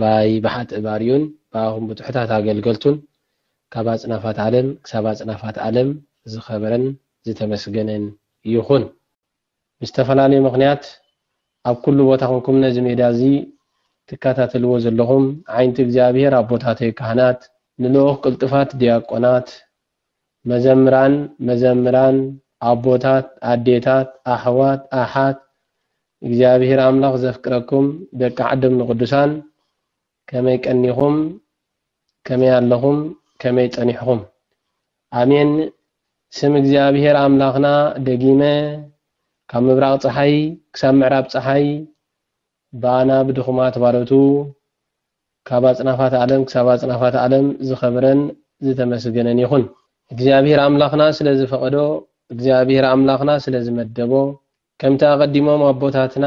ባይ ብሓጥእ ባርዩን ብኣኹም ብጡሑታት ኣገልገልቱን ካብ ኣጽናፋት ዓለም ክሳብ ኣጽናፋት ኣለም ዝኸበረን ዝተመስገነን ይኹን። ብዝተፈላለዩ ምኽንያት ኣብ ኩሉ ቦታ ኮንኩም ነዚ ሜድያ እዚ ትከታተልዎ ዘለኹም ዓይንቲ እግዚኣብሄር ኣቦታተይ ካህናት ንልኡኽ ቅልጡፋት ድያቆናት መዘምራን መዘምራን ኣቦታት ኣዴታት ኣሕዋት ኣሓት እግዚኣብሔር ኣምላኽ ዘፍቅረኩም ደቂ ዓደም ንቅዱሳን ከመይ ቀኒኹም ከመይ ኣለኹም ከመይ ጸኒሕኹም ኣሜን ስም እግዚኣብሔር ኣምላኽና ደጊመ ካብ ምብራቅ ጸሓይ ክሳብ ምዕራብ ጸሓይ ባና ብድኹማት ባሮቱ ካብ ኣጽናፋት ዓለም ክሳብ ኣጽናፋት ዓለም ዝኸብረን ዝተመስገነን ይኹን። እግዚኣብሄር ኣምላኽና ስለ ዝፈቐዶ፣ እግዚኣብሄር ኣምላኽና ስለ ዝመደቦ፣ ከምቲ ኣቐዲሞም ኣቦታትና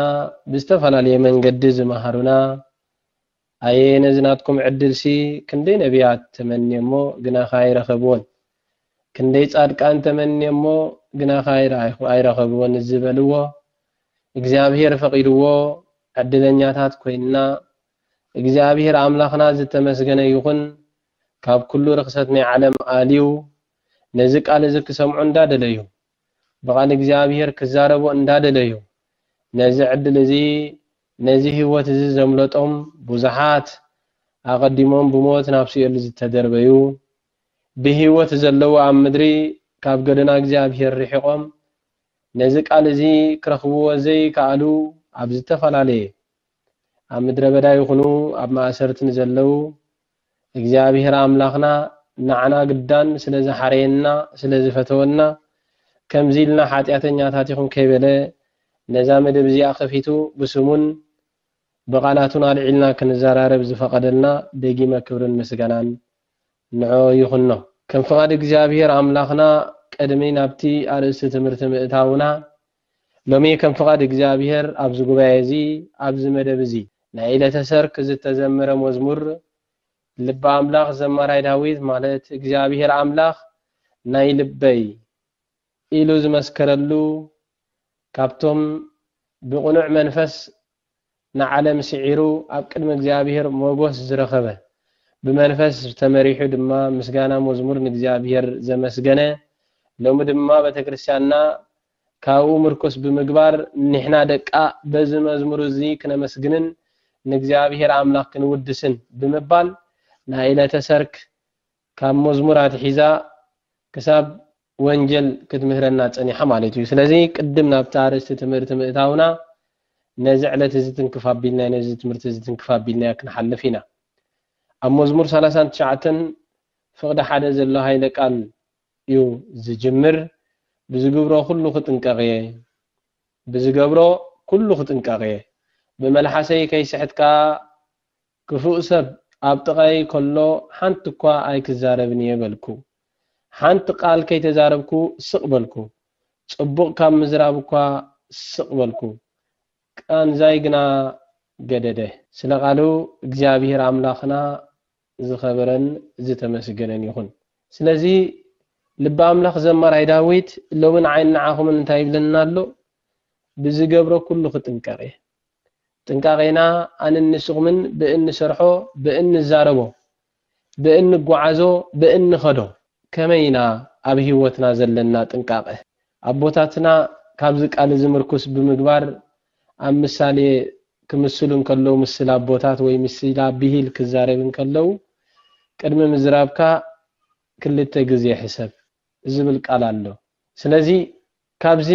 ብዝተፈላለየ መንገዲ ዝመሃሩና፣ ኣየ ነዚ ናትኩም ዕድልሲ ክንደይ ነብያት ተመንየሞ ግናኸ ኣይረኸብዎን፣ ክንደይ ጻድቃን ተመንየሞ ግናኸ ኣይረኸብዎን ዝበልዎ፣ እግዚኣብሄር ፈቒድዎ ዕድለኛታት ኮይንና፣ እግዚኣብሔር ኣምላኽና ዝተመስገነ ይኹን ካብ ኩሉ ርኽሰት ናይ ዓለም ኣልዩ ነዚ ቃል እዚ ክሰምዑ እንዳደለዩ ብቃል እግዚኣብሔር ክዛረቡ እንዳደለዩ ነዚ ዕድል እዚ ነዚ ሕይወት እዚ ዘምለጦም ብዙሓት ኣቀዲሞም ብሞት ናብ ሲኦል ዝተደርበዩ ብሕይወት ዘለዉ ኣብ ምድሪ ካብ ገደና እግዚኣብሔር ርሒቆም ነዚ ቃል እዚ ክረኽብዎ ዘይከኣሉ ኣብ ዝተፈላለየ ኣብ ምድረ በዳ ይኹኑ ኣብ ማእሰርቲ ንዘለዉ፣ እግዚኣብሄር ኣምላኽና ንዓና ግዳን ስለ ዝሓረየና፣ ስለ ዝፈተወና፣ ከምዚ ኢልና ሓጢኣተኛታት ኢኹም ከይበለ፣ ነዛ መደብ እዚኣ ከፊቱ ብስሙን ብቓላቱን ኣልዒልና ክንዘራረብ ዝፈቐደልና ደጊመ ክብርን ምስጋናን ንዕኦ ይኹኖ። ከም ፍቓድ እግዚኣብሄር ኣምላኽና ቅድሚ ናብቲ ኣርእስቲ ትምህርቲ ምእታውና፣ ሎሚ ከም ፍቓድ እግዚኣብሔር ኣብዚ ጉባኤ እዚ ኣብዚ መደብ እዚ ናይ ዕለተ ሰርክ ዝተዘመረ መዝሙር ልበ ኣምላኽ ዘማራይ ዳዊት ማለት እግዚኣብሔር ኣምላኽ ናይ ልበይ ኢሉ ዝመስከረሉ ካብቶም ብቕኑዕ መንፈስ ንዓለም ስዒሩ ኣብ ቅድሚ እግዚኣብሔር ሞጎስ ዝረኸበ፣ ብመንፈስ ተመሪሑ ድማ ምስጋና መዝሙር ንእግዚኣብሔር ዘመስገነ፣ ሎሚ ድማ ቤተክርስቲያንና ካብኡ ምርኩስ ብምግባር ኒሕና ደቃ በዚ መዝሙር እዚ ክነመስግንን ንእግዚኣብሔር ኣምላኽ ክንውድስን ብምባል ናይ ዕለተ ሰርክ ካብ መዝሙር ኣትሒዛ ክሳብ ወንጀል ክትምህረና ጸኒሓ ማለት እዩ። ስለዚ ቅድም ናብቲ ኣርእስቲ ትምህርቲ ምእታውና ነዚ ዕለት እዚ ትንክፍ ኣቢልናዮ ነዚ ትምህርቲ እዚ ትንክፍ ኣቢልናዮ ክንሓልፍ ኢና። ኣብ መዝሙር ሰላሳን ትሽዓተን ፍቕዲ ሓደ ዘሎ ሃይለ ቃል እዩ ዝጅምር ብዝግብሮ ኩሉ ክጥንቀቕ እየ ብዝገብሮ ኩሉ ክጥንቀቕ እየ ብመልሓሰይ ከይስሕትካ ክፉእ ሰብ ኣብ ጥቓየይ ከሎ ሓንቲ እኳ ኣይክዛረብን እየ በልኩ። ሓንቲ ቃል ከይተዛረብኩ ስቕ በልኩ። ጽቡቕ ካብ ምዝራብ እኳ ስቕ በልኩ። ቃንዛይ ግና ገደደ። ስለ ቃሉ እግዚኣብሄር ኣምላኽና ዝኸበረን ዝተመስገነን ይኹን። ስለዚ ልቢ ኣምላኽ ዘማራይ ዳዊት ሎሚ ንዓይን ንዓኹምን እንታይ ይብለና ኣሎ? ብዝገብሮ ኩሉ ክጥንቀቕ እየ። ጥንቃቄና ኣንን ንስኹምን ብእንሰርሖ ብእንዛረቦ ብእንጓዓዞ ብእንኸዶ ከመይ ኢና ኣብ ህይወትና ዘለና ጥንቃቀ ኣቦታትና ካብዚ ቃል እዚ ምርኩስ ብምግባር ኣብ ምሳሌ ክምስሉ እንከለዉ ምስል ኣቦታት ወይ ምስላ ብሂል ክዛረብ እንከለዉ ቅድሚ ምዝራብካ ክልተ ግዜ ሕሰብ ዝብል ቃል ኣሎ ስለዚ ካብዚ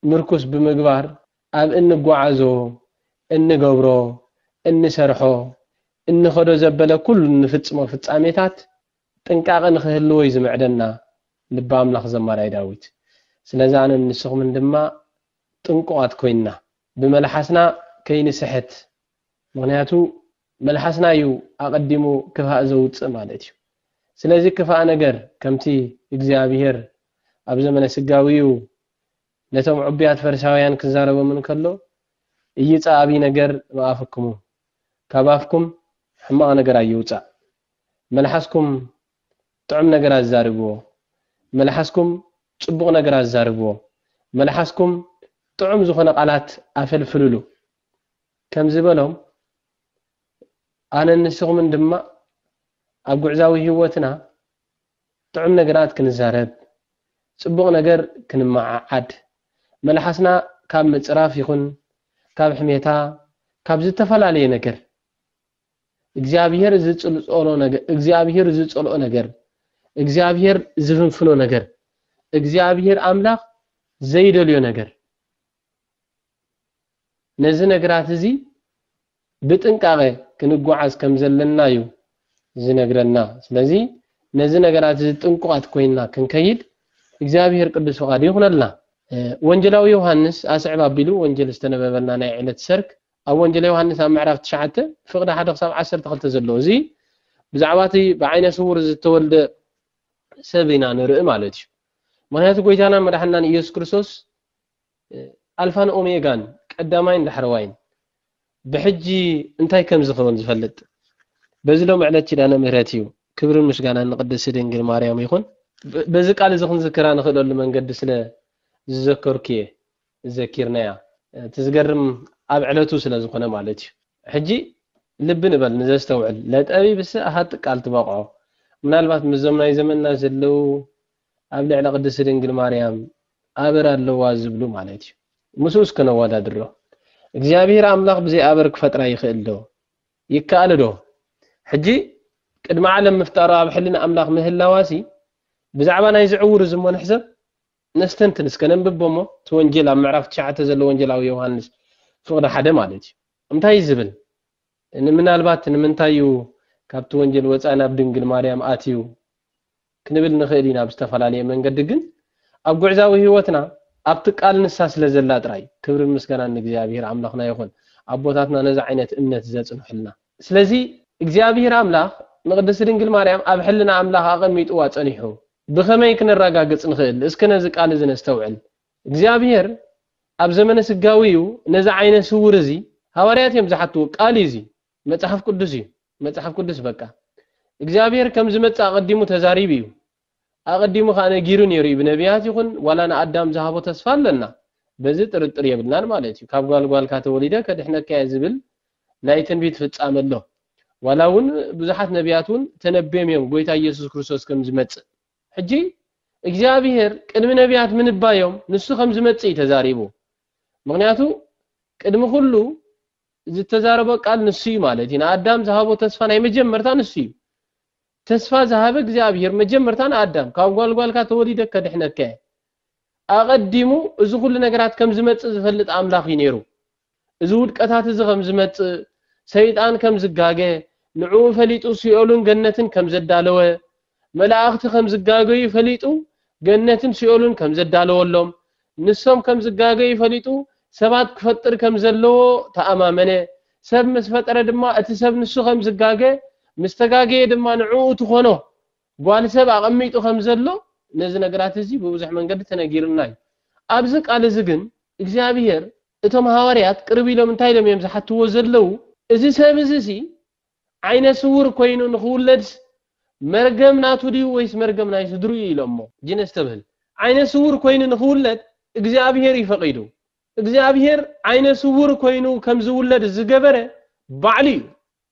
ምርኩስ ብምግባር ኣብ እንጓዓዞ፣ እንገብሮ፣ እንሰርሖ፣ እንኸዶ ዘበለ ኩሉ እንፍጽሞ ፍጻሜታት ጥንቃቐ ንኽህልዎ እዩ ዝምዕደና ልበ ኣምላኽ ዘማራይ ዳዊት። ስለዚ ኣነን ንስኹምን ድማ ጥንቁቓት ኮይንና፣ ብመልሓስና ከይንስሕት፣ ምኽንያቱ መልሓስና እዩ ኣቐዲሙ ክፍኣእ ዘውጽእ ማለት እዩ። ስለዚ ክፍኣ ነገር ከምቲ እግዚኣብሄር ኣብ ዘመነ ስጋዊኡ ነቶም ዕቡያት ፈሪሳውያን ክዛረቦም እንከሎ እይጻእ ኣቢ ነገር እምኣፍክሙ፣ ካብ ኣፍኩም ሕማቕ ነገር ኣይውጻእ፣ መልሓስኩም ጥዑም ነገር ኣዛርብዎ፣ መልሓስኩም ጽቡቕ ነገር ኣዛርብዎ፣ መልሓስኩም ጥዑም ዝኾነ ቃላት ኣፈልፍልሉ። ከምዚ በሎም፣ ኣነን ንስኹምን ድማ ኣብ ጉዕዛዊ ህይወትና ጥዑም ነገራት ክንዛረብ፣ ጽቡቕ ነገር ክንመዓዓድ፣ መልሓስና ካብ ምጽራፍ ይኹን ካብ ሕሜታ፣ ካብ ዝተፈላለየ ነገር፣ እግዚኣብሄር ዝጸልኦ ነገር፣ እግዚኣብሄር ዝፍንፍኖ ነገር፣ እግዚኣብሄር ኣምላኽ ዘይደልዮ ነገር፣ ነዚ ነግራት እዚ ብጥንቃቐ ክንጓዓዝ ከም ዘለና እዩ ዝነግረና። ስለዚ ነዚ ነገራት እዚ ጥንቁቓት ኮይንና ክንከይድ እግዚኣብሄር ቅዱስ ፍቓዱ ይኹነልና። ወንጌላዊ ዮሃንስ ኣስዕብ ኣቢሉ ወንጌል ዝተነበበልና ናይ ዕለት ሰርክ ኣብ ወንጌል ዮሃንስ ኣብ ምዕራፍ ትሽዓተ ፍቕዲ ሓደ ክሳብ ዓሰርተ ክልተ ዘሎ እዚ ብዛዕባ እቲ ብዓይነ ስውር ዝተወልደ ሰብ ኢና ንርኢ ማለት እዩ። ምክንያቱ ጎይታናን መድሓናን ኢየሱስ ክርስቶስ ኣልፋን ኦሜጋን ቀዳማይን ዳሕረዋይን ብሕጂ እንታይ ከም ዝከውን ዝፈልጥ በዚ ሎሚ ዕለት ኪዳነ ምህረት እዩ ክብርን ምስጋናን ንቅድስቲ ድንግል ማርያም ይኩን። በዚ ቃል እዚ ክንዝክራ ንክእለሉ መንገዲ ስለ ዝዘከርኩ እየ ዘኪርናያ እቲ ዝገርም ኣብ ዕለቱ ስለ ዝኮነ ማለት እዩ ሕጂ ልቢ ንበል ንዘስተውዕል ለጠቢብሰ ኣሃ ጥቀኣል ትበቅዖ ምናልባት ምስዞም ናይ ዘመንና ዘለው ኣብ ልዕሊ ቅድስቲ ድንግል ማርያም ኣበር ኣለዋ ዝብሉ ማለት እዩ። ምስኡ እስከ ነወዳድሮ። እግዚኣብሄር ኣምላኽ ብዘይ ኣበር ክፈጥራ ይኽእል ዶ? ይከኣል ዶ? ሕጂ ቅድሚ ዓለም ምፍጣሩ ኣብ ሕልና ኣምላኽ ምህላዋሲ ብዛዕባ ናይዚ ዕዉር እዚ እሞ ንሕሰብ ነስተንትን እስከ ነንብቦ እሞ እቲ ወንጌል ኣብ ምዕራፍ ትሽዓተ ዘሎ ወንጌላዊ ዮሃንስ ፍቕዲ ሓደ ማለት እዩ እንታይ እዩ ዝብል ንምናልባት ንምንታይ እዩ ካብቲ ወንጌል ወፃኢ ናብ ድንግል ማርያም ኣትዩ ክንብል ንኽእል ኢና ብዝተፈላለየ መንገዲ ግን ኣብ ጉዕዛዊ ህይወትና ኣብቲ ቃል ንሳ ስለ ዘላ ጥራይ ክብርን ምስጋናን ንእግዚኣብሄር ኣምላኽና ይኹን ኣቦታትና ነዚ ዓይነት እምነት ዘጽንሑልና ስለዚ እግዚኣብሄር ኣምላኽ ንቅድስቲ ድንግል ማርያም ኣብ ሕልና ኣምላኽ ኣቐሚጥዋ ጸኒሑ ብኸመይ ክነራጋግጽ ንኽእል እስከ ነዚ ቃል እዚ ነስተውዕል እግዚኣብሄር ኣብ ዘመነ ስጋዊ እዩ ነዚ ዓይነ ስውር እዚ ሃዋርያት እዮም ዝሓትዎ ቃል እዩ እዚ መጽሓፍ ቅዱስ እዩ መጽሓፍ ቅዱስ በቃ እግዚኣብሄር ከም ዝመጽእ ኣቐዲሙ ተዛሪቡ እዩ ኣቐዲሙ ከኣ ነጊሩ ነይሩ እዩ ብነብያት ይኹን ዋላ ንኣዳም ዝሃቦ ተስፋ ኣለና በዚ ጥርጥር የብልናን ማለት እዩ ካብ ጓል ጓልካ ተወሊደ ከድሕነካ እየ ዝብል ናይ ትንቢት ፍጻመ ኣሎ ዋላ እውን ብዙሓት ነብያት እውን ተነብዮም እዮም ጎይታ ኢየሱስ ክርስቶስ ከም ዝመጽእ ሕጂ እግዚኣብሄር ቅድሚ ነብያት ምንባዮም ንሱ ከም ዝመጽእ እዩ ተዛሪቡ ምክንያቱ ቅድሚ ኩሉ ዝተዛረቦ ቃል ንሱ እዩ ማለት እዩ። ንኣዳም ዝሃቦ ተስፋ ናይ መጀመርታ ንሱ እዩ። ተስፋ ዝሃበ እግዚኣብሄር መጀመርታ ንኣዳም ካብ ጓል ጓልካ ተወሊደ ከድሕነካ እየ። ኣቐዲሙ እዚ ኩሉ ነገራት ከም ዝመጽእ ዝፈልጥ ኣምላኽ እዩ ነይሩ። እዚ ውድቀታት እዚ ከም ዝመጽእ፣ ሰይጣን ከም ዝጋገ፣ ንዕኡ ፈሊጡ ሲኦልን ገነትን ከም ዘዳለወ፣ መላእኽቲ ከም ዝጋገዩ ፈሊጡ ገነትን ሲኦልን ከም ዘዳለወሎም፣ ንሶም ከም ዝጋገዩ ፈሊጡ ሰባት ክፈጥር ከም ዘለዎ ተኣማመነ። ሰብ ምስ ፈጠረ ድማ እቲ ሰብ ንሱ ከም ዝጋገ፣ ምስ ተጋገየ ድማ ንዕኡ ትኾኖ ጓል ሰብ ኣቐሚጡ ከም ዘሎ ነዚ ነገራት እዚ ብብዙሕ መንገዲ ተነጊሩና እዩ። ኣብዚ ቃል እዚ ግን እግዚኣብሄር እቶም ሃዋርያት ቅርብ ኢሎም እንታይ ኢሎም እዮም ዝሓትዎ ዘለዉ እዚ ሰብ እዚሲ ዓይነ ስውር ኮይኑ ንኽውለድስ መርገም ናቱ ድዩ ወይስ መርገም ናይ ስድርኡ እዩ ኢሎሞ። ግን ኣስተብህል ዓይነ ስውር ኮይኑ ንኽውለድ እግዚኣብሄር እዩ ፈቒዱ። እግዚኣብሄር ዓይነ ስውር ኮይኑ ከም ዝውለድ ዝገበረ ባዕሉ እዩ።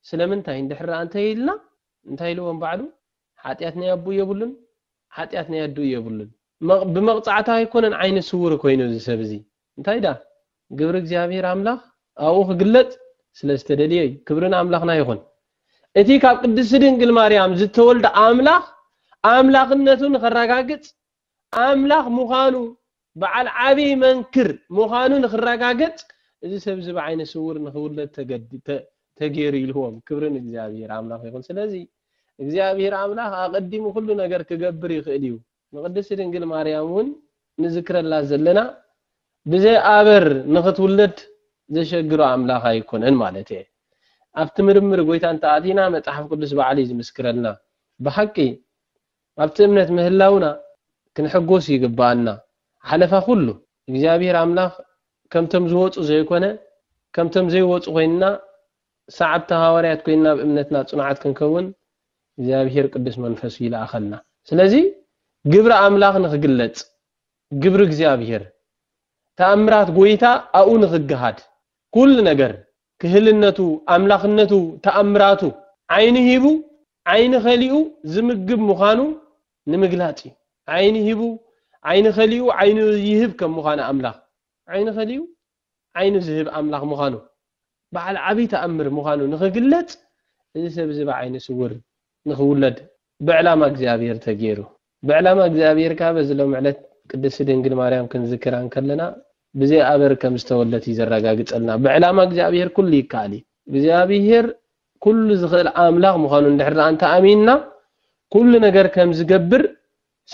ስለምንታይ እንድሕር ኣንተ ኢልና እንታይ ኢልዎም ባዕሉ ሓጢኣት ናይ ኣቡኡ የብሉን ሓጢኣት ናይ ኣዱኡ የብሉን። ብመቕጻዕታ ኣይኮነን ዓይነ ስውር ኮይኑ እዚ ሰብ እዚ እንታይ ደኣ ግብሪ እግዚኣብሄር ኣምላኽ ኣብኡ ክግለጽ ስለ ዝተደልየ እዩ። ክብሪ ንኣምላኽና ይኹን። እቲ ካብ ቅድስቲ ድንግል ማርያም ዝተወልደ ኣምላኽ ኣምላኽነቱ ንኸረጋግጽ ኣምላኽ ምዃኑ በዓል ዓብይ መንክር ምዃኑ ንኽረጋገጽ እዚ ሰብ እዚ ብዓይነ ስውር ንኽውለድ ተገድ ተገይሩ ኢልዎም። ክብሪ ንእግዚኣብሄር ኣምላኽ ይኹን። ስለዚ እግዚኣብሄር ኣምላኽ ኣቐዲሙ ኩሉ ነገር ክገብር ይኽእል እዩ። ንቅድስቲ ድንግል ማርያም ውን ንዝክረላ ዘለና ብዘይ ኣበር ንክትውለድ ዘሸግሮ ኣምላክ ኣይኮነን ማለት እየ ኣብቲ ምርምር ጎይታ እንተኣቲና መጽሓፍ ቅዱስ ባዕሉ እዩ ዝምስክረልና ብሓቂ ኣብቲ እምነት ምህላውና ክንሕጎስ ይግብኣና ሓለፋ ኩሉ እግዚኣብሔር ኣምላክ ከምቶም ዝወጹ ዘይኮነ ከምቶም ዘይወጹ ኮይንና ሰዓብቲ ሃዋርያት ኮይንና ኣብ እምነትና ጽኑዓት ክንከውን እግዚኣብሄር ቅዱስ መንፈሱ ይልኣኸልና። ስለዚ ግብሪ ኣምላኽ ንኽግለጽ፣ ግብሪ እግዚኣብሄር፣ ተኣምራት ጎይታ ኣብኡ ንኽገሃድ፣ ኩሉ ነገር፣ ክህልነቱ፣ ኣምላኽነቱ፣ ተኣምራቱ፣ ዓይኒ ሂቡ ዓይኒ ከሊኡ ዝምግብ ምዃኑ ንምግላጽ እዩ። ዓይኒ ሂቡ ዓይኒ ከሊኡ ዓይኑ ይህብ ከም ምዃነ ኣምላኽ ዓይኒ ከሊኡ ዓይኑ ዝህብ ኣምላኽ ምዃኑ፣ በዓል ዓብዪ ተኣምር ምዃኑ ንኽግለጽ እዚ ሰብ እዚ ብዓይነ ስውር ንኽውለድ ብዕላማ እግዚኣብሔር ተገይሩ። ብዕላማ እግዚኣብሔር ከኣ በዚ ሎሚ ዕለት ቅድስቲ ድንግል ማርያም ክንዝክራ እንከለና ብዘይ ኣበር ከም ዝተወልደት እዩ ዘረጋግጸልና። ብዕላማ እግዚኣብሔር ኩሉ ይከኣል እዩ። እግዚኣብሔር ኩሉ ዝኽእል ኣምላኽ ምዃኑ እንድሕር ደኣ እንተ ኣሚንና ኩሉ ነገር ከም ዝገብር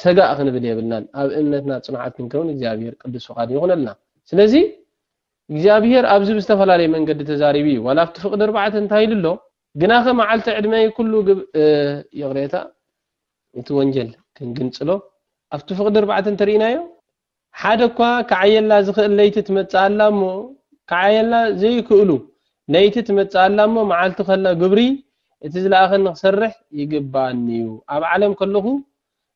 ሰጋእ ክንብል የብልናን ኣብ እምነትና ጽኑዓት ክንከውን እግዚኣብሄር ቅዱስ ፍቃዱ ይኹነልና ስለዚ እግዚኣብሄር ኣብዚ ብዝተፈላለየ መንገዲ ተዛሪቡ እዩ ዋላ ኣብቲ ፍቅዲ ኣርባዕተ እንታይ ኢሉ ኣሎ ግናኸ መዓልቲ ዕድመይ ኩሉ ይቕሬታ እቲ ወንጀል ክንግንጽሎ ኣብቲ ፍቅዲ ኣርባዕተ እንተርኢናዮ ሓደ እኳ ክዓየላ ዝኽእል ለይቲ ትመጽእ ኣላ እሞ፣ ክዓየላ ዘይክእሉ ለይቲ ትመጽእ ኣላ እሞ፣ መዓልቲ ከላ ግብሪ እቲ ዝለኣኸኒ ክሰርሕ ይግብኣኒ'ዩ። ኣብ ዓለም ከለኹ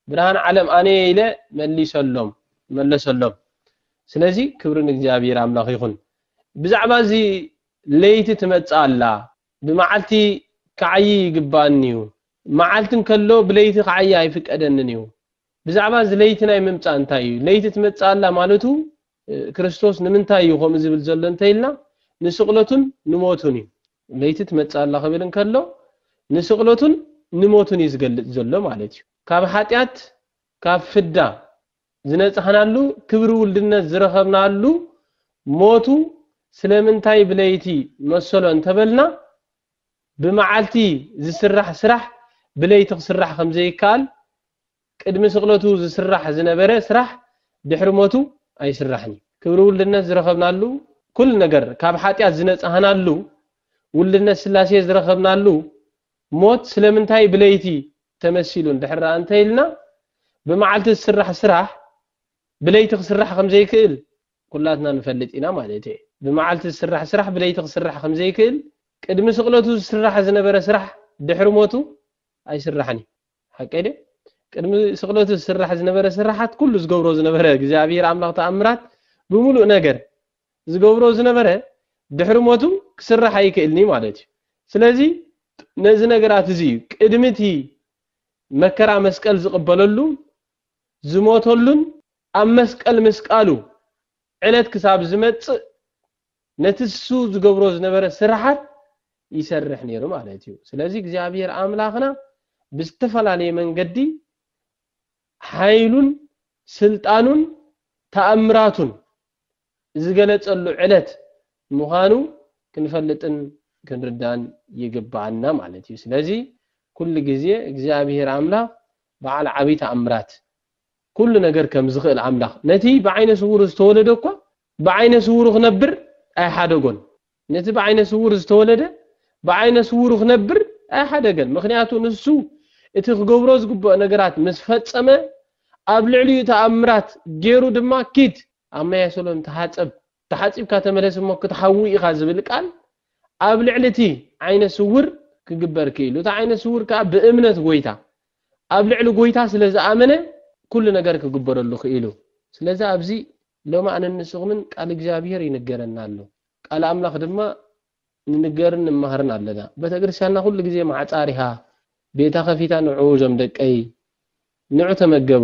ብርሃን ዓለም ኣነ'የ ኢለ መሊሰሎም መለሰሎም። ስለዚ ክብሪ ንእግዚኣብሄር ኣምላኽ ይኹን። ብዛዕባ እዚ ለይቲ ትመጽእ ኣላ፣ ብመዓልቲ ክዓዪ ይግብኣኒ'ዩ፣ መዓልቲ እንከሎ ብለይቲ ክዓዪ ኣይፍቀደንን'ዩ። ብዛዕባ እዚ ለይቲ ናይ ምምጻእ እንታይ እዩ? ለይቲ ትመጽእ ኣላ ማለቱ ክርስቶስ ንምንታይ እዩ ከምኡ ዝብል ዘሎ እንተኢልና ንስቕለቱን ንሞቱን እዩ። ለይቲ ትመጽእ ኣላ ክብል እንከሎ ንስቕለቱን ንሞቱን እዩ ዝገልጽ ዘሎ ማለት እዩ። ካብ ሓጢኣት ካብ ፍዳ ዝነጻሕናሉ ክብሪ ውልድነት ዝረኸብናሉ ሞቱ ስለምንታይ ብለይቲ መሰሎ እንተበልና ብመዓልቲ ዝስራሕ ስራሕ ብለይቲ ክስራሕ ከም ዘይከኣል፣ ቅድሚ ስቕለቱ ዝስራሕ ዝነበረ ስራሕ ድሕሪ ሞቱ ኣይስራሕን እዩ። ክብሪ ውልድነት ዝረኸብናሉ፣ ኩሉ ነገር ካብ ሓጢኣት ዝነጻህናሉ፣ ውልድነት ስላሴ ዝረኸብናሉ ሞት ስለምንታይ ብለይቲ ተመሲሉ እንድሕር ኣንተኢልና፣ ብመዓልቲ ዝስራሕ ስራሕ ብለይቲ ክስራሕ ከም ዘይክእል፣ ኩላትና ንፈልጥ ኢና ማለት እየ። ብመዓልቲ ዝስራሕ ስራሕ ብለይቲ ክስራሕ ከም ዘይክእል፣ ቅድሚ ስቕለቱ ዝስራሕ ዝነበረ ስራሕ ድሕሪ ሞቱ ኣይስራሕን እዩ። ሓቀይ ድየ? ቅድሚ ስቕለቱ ዝስራሕ ዝነበረ ስራሓት ኩሉ ዝገብሮ ዝነበረ እግዚኣብሄር ኣምላኽ ተኣምራት ብምሉእ ነገር ዝገብሮ ዝነበረ ድሕሪ ሞቱ ክስራሕ ኣይክእልን እዩ ማለት እዩ። ስለዚ ነዚ ነገራት እዚ እዩ ቅድሚ እቲ መከራ መስቀል ዝቕበለሉ ዝሞተሉን ኣብ መስቀል ምስቃሉ ዕለት ክሳብ ዝመጽእ ነቲ ንሱ ዝገብሮ ዝነበረ ስርሓት ይሰርሕ ነይሩ ማለት እዩ። ስለዚ እግዚኣብሄር ኣምላኽና ብዝተፈላለየ መንገዲ ሓይሉን ስልጣኑን ተኣምራቱን ዝገለጸሉ ዕለት ምዃኑ ክንፈልጥን ክንርዳን ይግብኣና ማለት እዩ። ስለዚ ኩሉ ግዜ እግዚኣብሄር ኣምላኽ በዓል ዓቢይ ተኣምራት ኩሉ ነገር ከም ዝኽእል ኣምላኽ ነቲ ብዓይነ ስዉር ዝተወለደ እኳ ብዓይነ ስዉሩ ክነብር ኣይሓደጎን። ነቲ ብዓይነ ስዉር ዝተወለደ ብዓይነ ስዉሩ ክነብር ኣይሓደገን። ምኽንያቱ ንሱ እቲ ክገብሮ ዝግብኦ ነገራት ምስ ፈጸመ ኣብ ልዕሊኡ ተኣምራት ጌሩ ድማ ኪድ ኣብ ማይ ኣሰሎን ተሓጸብ፣ ተሓጺብካ ተመለስ እሞ ክትሓዊ ኢኻ ዝብል ቃል ኣብ ልዕሊ እቲ ዓይነ ስውር ክግበር ክኢሉ። እቲ ዓይነ ስውር ከኣ ብእምነት ጐይታ፣ ኣብ ልዕሊ ጐይታ ስለ ዝኣመነ ኩሉ ነገር ክግበረሉ ክኢሉ። ስለዚ ኣብዚ ሎሚ ኣነን ንስኹምን ቃል እግዚኣብሄር ይንገረና ኣሎ። ቃል ኣምላኽ ድማ ንንገርን ንማሃርን ኣለና በተክርስትያንና ኩሉ ግዜ ማዕጻ ኣሪሃ ቤታ ከፊታ ንዑ ዞም ደቀይ ንዑ ተመገቡ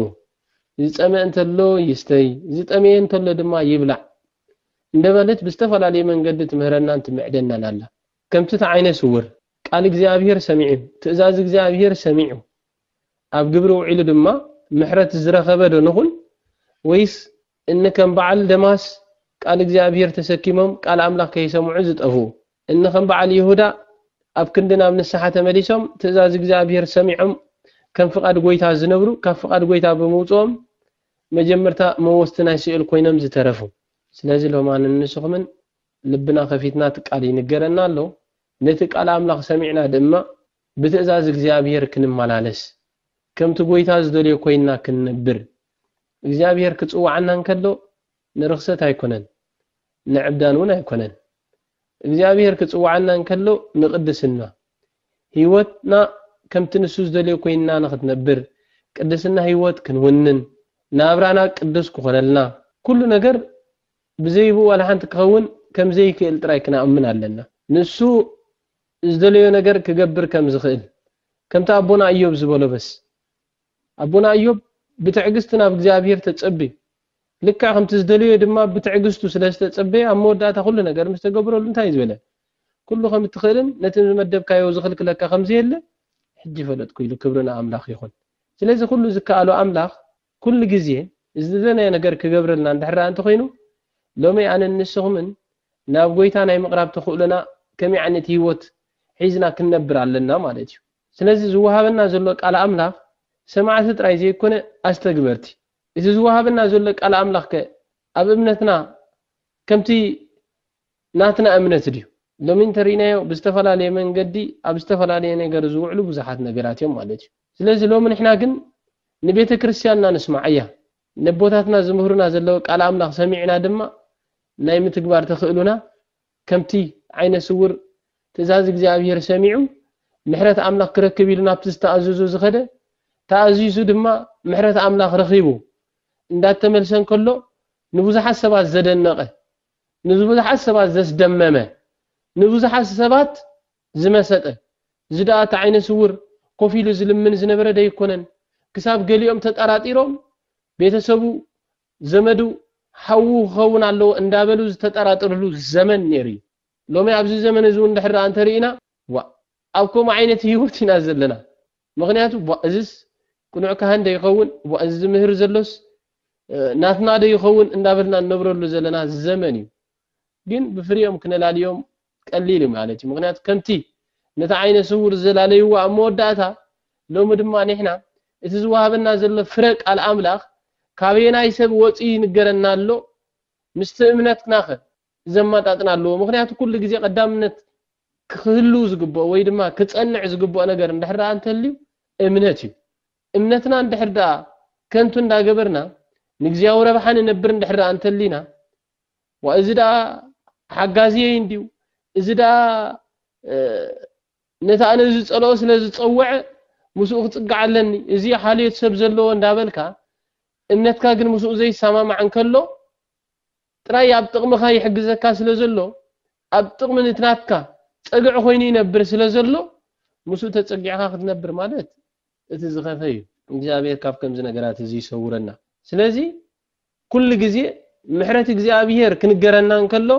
ዝጸመ እንተሎ ይስተይ ዝጠመየ እንተሎ ድማ ይብላዕ እንደበለት ብዝተፈላለየ መንገዲ ትምህረናን ትምዕደናን ኣላ ከምቲ እቲ ዓይነ ስውር ቃል እግዚኣብሄር ሰሚዑ ትእዛዝ እግዚኣብሄር ሰሚዑ ኣብ ግብሪ ውዒሉ ድማ ምሕረት ዝረኸበ ዶ ንኹን ወይስ እኒ ከም በዓል ደማስ ቃል እግዚኣብሄር ተሰኪሞም ቃል ኣምላኽ ከይሰምዑ ዝጠፍኡ፣ እኒ ከም በዓል ይሁዳ ኣብ ክንዲ ናብ ንስሓ ተመሊሶም ትእዛዝ እግዚኣብሄር ሰሚዖም ከም ፍቓድ ጐይታ ዝነብሩ ካብ ፍቓድ ጐይታ ብምውጽኦም መጀመርታ መወስቲ ናይ ሲኦል ኮይኖም ዝተረፉ። ስለዚ ሎማ ንንስኹምን ልብና ከፊትና እቲ ቃል ይንገረና ኣሎ፣ ነቲ ቃል ኣምላኽ ሰሚዕና ድማ ብትእዛዝ እግዚኣብሄር ክንመላለስ ከምቲ ጐይታ ዝደልዮ ኮይንና ክንነብር እግዚኣብሄር ክጽውዓና እንከሎ ንርኽሰት ኣይኮነን ንዕብዳን ውን ኣይኮነን እግዚኣብሄር ክጽውዓና እንከሎ ንቅድስና ሂወትና ከምቲ ንሱ ዝደልዮ ኮይንና ንኽትነብር ቅድስና ሂወት ክንውንን ናብራና ቅዱስ ክኾነልና ኩሉ ነገር ብዘይብኡ ዋላ ሓንቲ ክኸውን ከም ዘይክእል ጥራይ ክናኣምን ኣለና ንሱ ዝደለዮ ነገር ክገብር ከም ዝኽእል ከምቲ ኣቦና እዮብ ዝበሎ በስ ኣቦና እዮብ ብትዕግስቲ ናብ እግዚኣብሄር ተጸብዩ ልክዕ ከምቲ ዝደለዮ ድማ ብትዕግስቱ ስለ ዝተጸበየ ኣብ መወዳእታ ኩሉ ነገር ምስ ተገብረሉ እንታይ ዝበለ ኩሉ ከም እትኽእልን ነቲ ዝመደብካዮ ዝኽልክለካ ከም ዘየለ ሕጂ ፈለጥኩ ኢሉ ክብሪ ንኣምላኽ ይኹን ስለዚ ኩሉ ዝከኣሎ ኣምላኽ ኩሉ ግዜ ዝደለናዮ ነገር ክገብረልና እንድሕር ደኣ እንተኾይኑ ሎሚ ኣነን ንስኹምን ናብ ጎይታ ናይ ምቕራብ ተኽእሎና ከመይ ዓይነት ህይወት ሒዝና ክንነብር ኣለና ማለት እዩ ስለዚ ዝወሃበና ዘሎ ቃል ኣምላኽ ሰማዕቲ ጥራይ ዘይኮነ ኣስተግበርቲ እቲ ዝወሃበና ዘሎ ቃል ኣምላኽ ከ ኣብ እምነትና ከምቲ ናትና እምነት ድዩ? ሎሚ እንተሪኢናዮ ብዝተፈላለየ መንገዲ ኣብ ዝተፈላለየ ነገር ዝውዕሉ ብዙሓት ነገራት እዮም ማለት እዩ። ስለዚ ሎሚ ንሕና ግን ንቤተ ክርስትያንና ንስምዓያ ነቦታትና ዝምህሩና ዘለዉ ቃል ኣምላኽ ሰሚዕና ድማ ናይ ምትግባር ተኽእሉና ከምቲ ዓይነ ስውር ትእዛዝ እግዚኣብሄር ሰሚዑ ምሕረት ኣምላኽ ክረክብ ኢሉ ናብቲ ዝተኣዘዞ ዝኸደ፣ ተኣዚዙ ድማ ምሕረት ኣምላኽ ረኺቡ እንዳተመልሰ እንከሎ ንብዙሓት ሰባት ዘደነቐ፣ ንብዙሓት ሰባት ዘስደመመ፣ ንብዙሓት ሰባት ዝመሰጠ፣ እዚ ድኣ እቲ ዓይነ ስውር ኮፍ ኢሉ ዝልምን ዝነበረ ደይኮነን? ክሳብ ገሊኦም ተጠራጢሮም ቤተሰቡ ዘመዱ ሓዉ ክኸውን ኣለዎ እንዳበሉ ዝተጠራጥርሉ ዘመን ኔሩ እዩ። ሎሚ ኣብዚ ዘመን እዚ ውን ድሕር ደኣ እንተ ርኢና ዋእ ኣብ ከምኡ ዓይነት ሂወት ኢና ዘለና ምኽንያቱ ዋእ እዝስ ቅኑዕ ካህን ዶ ይኸውን ዋእ እዚ ዝምህር ዘሎስ ናትና ዶ ይኸውን እንዳበልና እንነብረሉ ዘለና ዘመን እዩ። ግን ብፍሪኦም ክነላልዮም ቀሊል እዩ ማለት እዩ ምክንያቱ ከምቲ ነቲ ዓይነ ስውር ዘላለይዎ ኣብ መወዳእታ ሎሚ ድማ ንሕና እቲ ዝወሃበና ዘሎ ፍረ ቃል ኣምላኽ ካበየናይ ሰብ ወጽዩ ይንገረና ኣሎ ምስቲ እምነትናኸ ዘመጣጥን ኣለዎ ምክንያቱ ኩሉ ግዜ ቀዳምነት ክህልው ዝግብኦ ወይ ድማ ክጸንዕ ዝግብኦ ነገር እንድሕር ደኣ እንተልዩ እምነት እዩ እምነትና እንድሕር ደኣ ከንቱ እንዳገበርና ንግዚያዊ ረብሓ ንነብር እንድሕር ደኣ እንተሊና ዋይ እዚ ደኣ ሓጋዝየይ እንድዩ፣ እዚ ደኣ ነቲ ኣነ ዝጸልኦ ስለ ዝጸወዐ ምስኡ ክጽጋዕ ኣለኒ፣ እዚ ሓልዮት ሰብ ዘለዎ እንዳበልካ እምነትካ ግን ምስኡ ዘይሰማማዕ እንከሎ ጥራይ ኣብ ጥቕምኻ ይሕግዘካ ስለ ዘሎ ኣብ ጥቕሚ ንቲ ናትካ ጸግዒ ኮይኑ ይነብር ስለ ዘሎ ምስኡ ተጸጊዕኻ ክትነብር ማለት እቲ ዝኸፈ እዩ። እግዚኣብሔር ካብ ከምዚ ነገራት እዚ ይሰውረና። ስለዚ ኩሉ ግዜ ምሕረት እግዚኣብሄር ክንገረና እንከሎ፣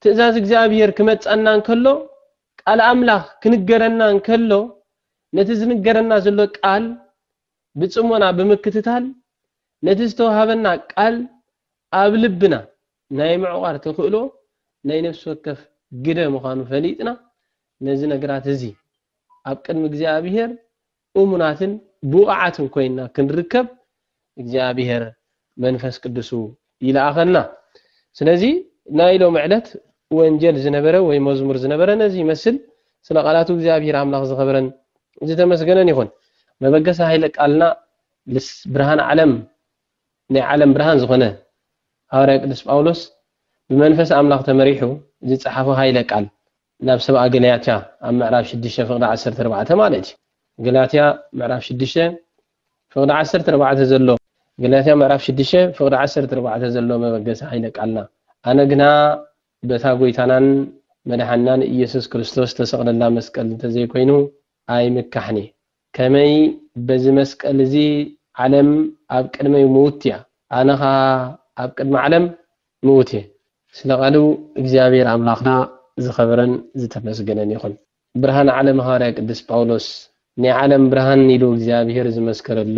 ትእዛዝ እግዚኣብሄር ክመጽኣና እንከሎ፣ ቃል ኣምላኽ ክንገረና እንከሎ፣ ነቲ ዝንገረና ዘሎ ቃል ብጽሞና ብምክትታል፣ ነቲ ዝተዋህበና ቃል ኣብ ልብና ናይ ምዕቋር ተኽእሎ ናይ ነፍሲ ወከፍ ግደ ምዃኑ ፈሊጥና፣ ነዚ ነግራት እዚ ኣብ ቅድሚ እግዚኣብሄር እሙናትን ብቑዓትን ኮይንና ክንርከብ እግዚኣብሄር መንፈስ ቅዱሱ ይልኣኸልና። ስለዚ ናይ ሎሚ ዕለት ወንጀል ዝነበረ ወይ መዝሙር ዝነበረ ነዚ ይመስል። ስለ ቃላቱ እግዚኣብሄር ኣምላኽ ዝኸበረን ዝተመስገነን ይኹን። መበገሲ ኃይለ ቃልና ልስ ብርሃን ዓለም ናይ ዓለም ብርሃን ዝኾነ ሃዋርያ ቅዱስ ጳውሎስ ብመንፈስ ኣምላኽ ተመሪሑ ዝጸሓፎ ኃይለ ቃል ናብ ሰብኣ ገላትያ ኣብ ምዕራፍ ሽዱሽተ ፍቕዲ ዓሰርተ ኣርባዕተ ማለት እዩ። ገላትያ ምዕራፍ ሽዱሽተ ፍቕዲ ዓሰርተ ኣርባዕተ ዘሎ ገላትያ ምዕራፍ ሽዱሽተ ፍቕዲ ዓሰርተ ኣርባዕተ ዘሎ መበገሲ ኃይለ ቃልና ኣነ ግና በታ ጐይታናን መድሓናን ኢየሱስ ክርስቶስ ተሰቕለላ መስቀል እንተዘይኮይኑ ኣይምካሕን እየ። ከመይ በዚ መስቀል እዚ ዓለም ኣብ ቅድመይ ምውት እያ ኣነ ከኣ ኣብ ቅድሚ ዓለም ምውት እየ። ስለ ቃሉ እግዚኣብሔር ኣምላኽና ዝኸበረን ዝተመስገነን ይኹን። ብርሃን ዓለም ሃዋርያ ቅዱስ ጳውሎስ ናይ ዓለም ብርሃን ኢሉ እግዚኣብሔር ዝመስከረሉ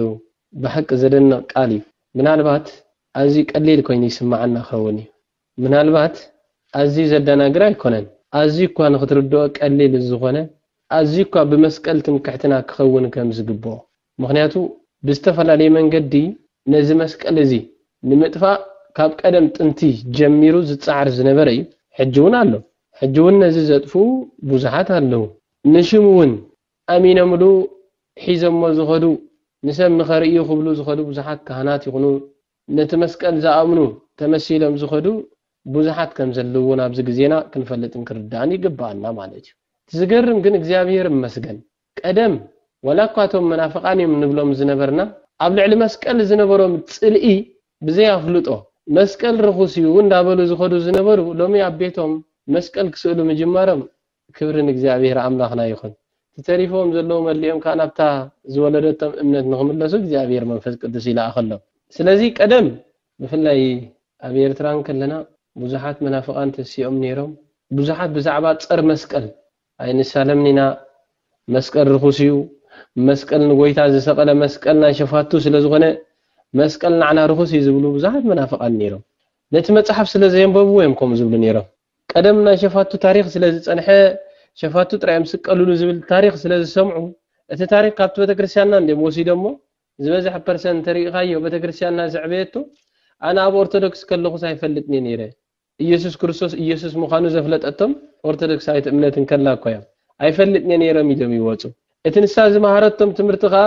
ብሓቂ ዘደንቕ ቃል እዩ። ምናልባት ኣዝዩ ቀሊል ኮይኑ ይስምዓና ክኸውን እዩ። ምናልባት ኣዝዩ ዘደናግር ኣይኮነን፣ ኣዝዩ'ኳ ንኽትርድኦ ቀሊል ዝኾነ፣ ኣዝዩ'ኳ ብመስቀል ትምክሕትና ክኸውን ከም ዝግብኦ። ምኽንያቱ ብዝተፈላለየ መንገዲ ነዚ መስቀል እዚ ንምጥፋእ ካብ ቀደም ጥንቲ ጀሚሩ ዝጸዓር ዝነበረ እዩ፣ ሕጂ'ውን ኣሎ። ሕጂ'ውን ነዚ ዘጥፍኡ ብዙሓት ኣለዉ፣ ንሽሙ'ውን ኣሚኖምሉ ሒዞሞ ዝኸዱ፣ ንሰብ ንኸርእዩ ክብሉ ዝኸዱ ብዙሓት ካህናት ይኹኑ ነቲ መስቀል ዝኣምኑ ተመሲሎም ዝኸዱ ብዙሓት ከም ዘለዉ እውን ኣብዚ ግዜና ክንፈልጥን ክንርዳእን ይግብኣና ማለት እዩ። እቲ ዝገርም ግን እግዚኣብሄር ይመስገን ቀደም ዋላ እኳ እቶም መናፍቓን እዮም ንብሎም ዝነበርና ኣብ ልዕሊ መስቀል ዝነበሮም ጽልኢ ብዘይ ኣፍልጦ መስቀል ርኹስ እዩ እንዳበሉ ዝኸዱ ዝነበሩ ሎሚ ኣብ ቤቶም መስቀል ክስእሉ ምጅማሮም ክብሪ ንእግዚኣብሔር ኣምላኽና ይኹን። እቲ ተሪፍዎም ዘለዉ መሊኦም ከኣ ናብታ ዝወለደቶም እምነት ንኽምለሱ እግዚኣብሔር መንፈስ ቅዱስ ይልኣኸሎም። ስለዚ ቀደም ብፍላይ ኣብ ኤርትራ እንከለና ብዙሓት መናፍቃን ተሲኦም ኔሮም ብዙሓት ብዛዕባ ጸር መስቀል ኣይንሳለምን ኢና መስቀል ርኹስ እዩ መስቀል ንጎይታ ዝሰቀለ መስቀል ናይ ሸፋቱ ስለ ዝኾነ መስቀል ናዕና ርኹስ እዩ ዝብሉ ብዙሓት መናፍቃን ኔሮም ነቲ መጽሓፍ ስለ ዘየንበብዎ እዮም ከምኡ ዝብሉ ኔሮም ቀደም ናይ ሸፋቱ ታሪኽ ስለ ዝጸንሐ፣ ሸፋቱ ጥራይ እዮም ዝስቀልሉ ዝብል ታሪኽ ስለ ዝሰምዑ፣ እቲ ታሪኽ ካብቲ ቤተክርስትያንና እንድዮም ወሲዶሞ፣ ዝበዝሐ ፐርሰን እንተሪኢኻዮ ቤተክርስትያንና ዘዕበየቶ፣ ኣነ ኣብ ኦርቶዶክስ ከለኹስ ኣይፈልጥን'የ ነይረ፣ ኢየሱስ ክርስቶስ ኢየሱስ ምዃኑ ዘፍለጠቶም ኦርቶዶክሳዊት እምነት እንከላ እኳ እዮም፣ ኣይፈልጥን'የ ነይረም ኢሎም ይወጹ። እቲ ንሳ ዝመሃረቶም ትምህርቲ ከኣ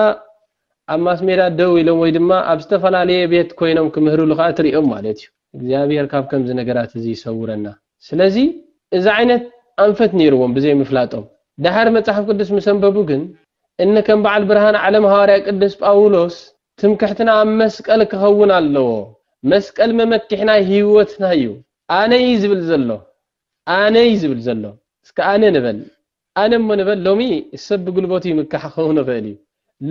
ኣብ ማስሜዳ ደው ኢሎም ወይ ድማ ኣብ ዝተፈላለየ ቤት ኮይኖም ክምህርሉ ከኣ ትሪኦም ማለት እዩ። እግዚኣብሔር ካብ ከምዚ ነገራት እዚ ይሰውረና ስለዚ እዚ ዓይነት ኣንፈት ነይርዎም ብዘይ ምፍላጦም ደሓር መጽሓፍ ቅዱስ ምስ ኣንበቡ ግን እነ ከም በዓል ብርሃን ዓለም ሃዋርያ ቅዱስ ጳውሎስ ትምክሕትና ኣብ መስቀል ክኸውን ኣለዎ መስቀል መመኪሕና ህይወትና እዩ ኣነ እዩ ዝብል ዘሎ ኣነ እዩ ዝብል ዘሎ እስከ ኣነ ንበል ኣነ እሞ ንበል ሎሚ ሰብ ብጉልበቱ ይምካሕ ክኸውን ይኽእል እዩ።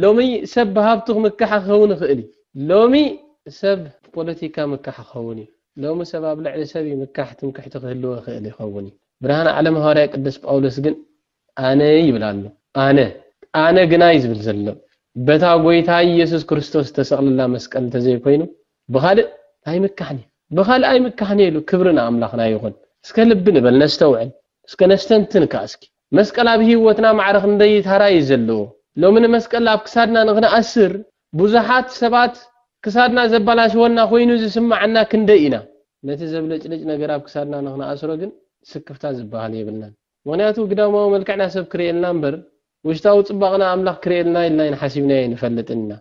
ሎሚ ሰብ ብሃብቱ ክምካሕ ክኸውን ይኽእል እዩ። ሎሚ ሰብ ብፖለቲካ ይምካሕ ክኸውን እዩ። ሎሚ ሰብ ኣብ ልዕሊ ሰብ ይምካሕ ትምክሕቲ ክህልዎ ይኽእል ይኸውን እዩ። ብርሃን ዓለም ሃዋርያ ቅዱስ ጳውሎስ ግን ኣነ ይብል ኣሎ። ኣነ። ኣነ ግና እዩ ዝብል ዘሎ በታ ጎይታይ ኢየሱስ ክርስቶስ ዝተሰቕለላ መስቀል እንተዘይኮይኑ ብኻልእ ታይ ምካሕን እዩ ብኻልኣይ ምካሕን እየ ኢሉ ክብሪ ንኣምላኽና ይኹን እስከ ልቢ ንበል ነስተውዕል እስከ ነስተንትን ካኣ እስኪ መስቀል ኣብ ሂወትና ማዕረ ክንደይ ታራ እዩ ዘለዎ ሎሚ ንመስቀል ኣብ ክሳድና ንኽንኣስር ቡዙሓት ሰባት ክሳድና ዘባላሽወና ኮይኑ ዝስማዓና ክንደይ ኢና ነቲ ዘብለጭልጭ ነገር ኣብ ክሳድና ንኽንኣስሮ ግን ስክፍታ ዝባሃል የብልናን ምኽንያቱ ግዳማዊ መልክዕና ሰብ ክርእየልና እምበር ውሽጣዊ ጽባቕና ኣምላኽ ክርእየልና ኢልና ኣይንሓሲብናዮ ኣይንፈልጥን ኢና።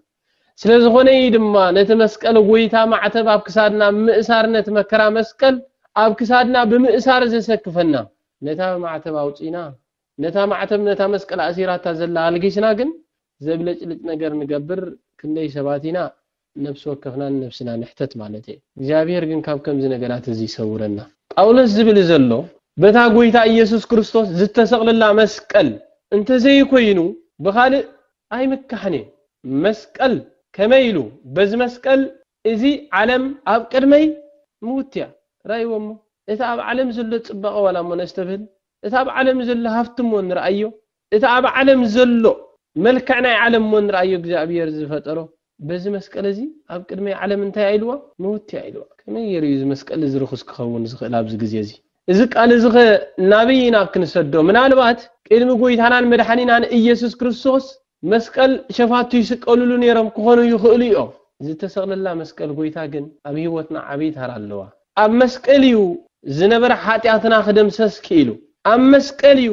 ስለ ዝኾነ እዩ ድማ ነቲ መስቀል ጎይታ ማዕተብ ኣብ ክሳድና ብምእሳር ነቲ መከራ መስቀል ኣብ ክሳድና ብምእሳር ዘሰክፈና። ነታ ማዕተብ ኣውጺእና ነታ ማዕተብ ነታ መስቀል ኣእሲራታ ዘላ ኣልጊስና ግን ዘብለጭልጭ ነገር ንገብር ክንደይ ሰባት ኢና። ንነብሲ ወከፍና ንነብስና ንሕተት ማለት እየ። እግዚኣብሔር ግን ካብ ከምዚ ነገራት እዚ ይሰውረና። ጳውሎስ ዝብል ዘሎ በታ ጎይታ እየሱስ ክርስቶስ ዝተሰቅለላ መስቀል እንተዘይኮይኑ ብካልእ ኣይምካሕን እየ። መስቀል ከመይ ኢሉ በዚ መስቀል እዚ ዓለም ኣብ ቅድመይ ምውት እያ። ራእይዎ እሞ እቲ ኣብ ዓለም ዘሎ ጽባቀ ዋላ እሞ ነስተብህል እቲ ኣብ ዓለም ዘሎ ሃፍቲ እሞ ንርኣዮ እቲ ኣብ ዓለም ዘሎ መልክዕ ናይ ዓለም እሞ ንርኣዮ እግዚኣብሔር ዝፈጠሮ በዚ መስቀል እዚ ኣብ ቅድመይ ዓለም እንታይ እያ ኢልዋ ምውት እያ ኢልዋ ከመይ ገይሩ እዩ እዚ መስቀል እዚ ርኹስ ክኸውን ዝኽእል ኣብዚ ግዜ እዚ እዚ ቃል እዚ ኸ ናበይ ኢና ክንሰዶ ምናልባት ቅድሚ ጎይታናን መድሓኒናን እየሱስ ክርስቶስ መስቀል ሸፋቱ ይስቀልሉ ነይሮም ክኾኑ ይኽእሉ እዮም ዝተሰቕለላ መስቀል ጎይታ ግን ኣብ ህይወትና ዓብይ ታራ ኣለዋ ኣብ መስቀል እዩ ዝነበረ ሓጢኣትና ክደምሰስ ክኢሉ ኣብ መስቀል እዩ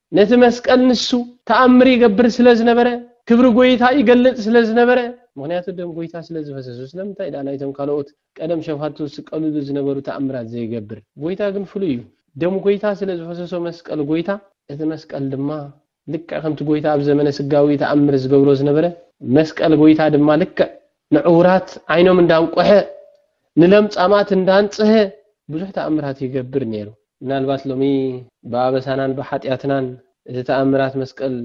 ነቲ መስቀል ንሱ ተኣምር ይገብር ስለ ዝነበረ፣ ክብሪ ጐይታ ይገልጽ ስለ ዝነበረ፣ ምኽንያቱ ደም ጐይታ ስለ ዝፈሰሱ፣ ስለምንታይ ደኣ ናይቶም ካልኦት ቀደም ሸፋቱ ዝስቀልሉ ዝነበሩ ተኣምራት ዘይገብር? ጐይታ ግን ፍሉይ እዩ። ደም ጐይታ ስለ ዝፈሰሶ መስቀል ጐይታ፣ እቲ መስቀል ድማ ልክዕ ከምቲ ጐይታ ኣብ ዘመነ ስጋዊ ተኣምር ዝገብሮ ዝነበረ፣ መስቀል ጐይታ ድማ ልክዕ ንዕውራት ዓይኖም እንዳንቆሐ፣ ንለምጻማት እንዳንጽሀ ብዙሕ ተኣምራት ይገብር ነይሩ። ምናልባት ሎሚ ብኣበሳናን ብሓጢኣትናን እቲ ተኣምራት መስቀል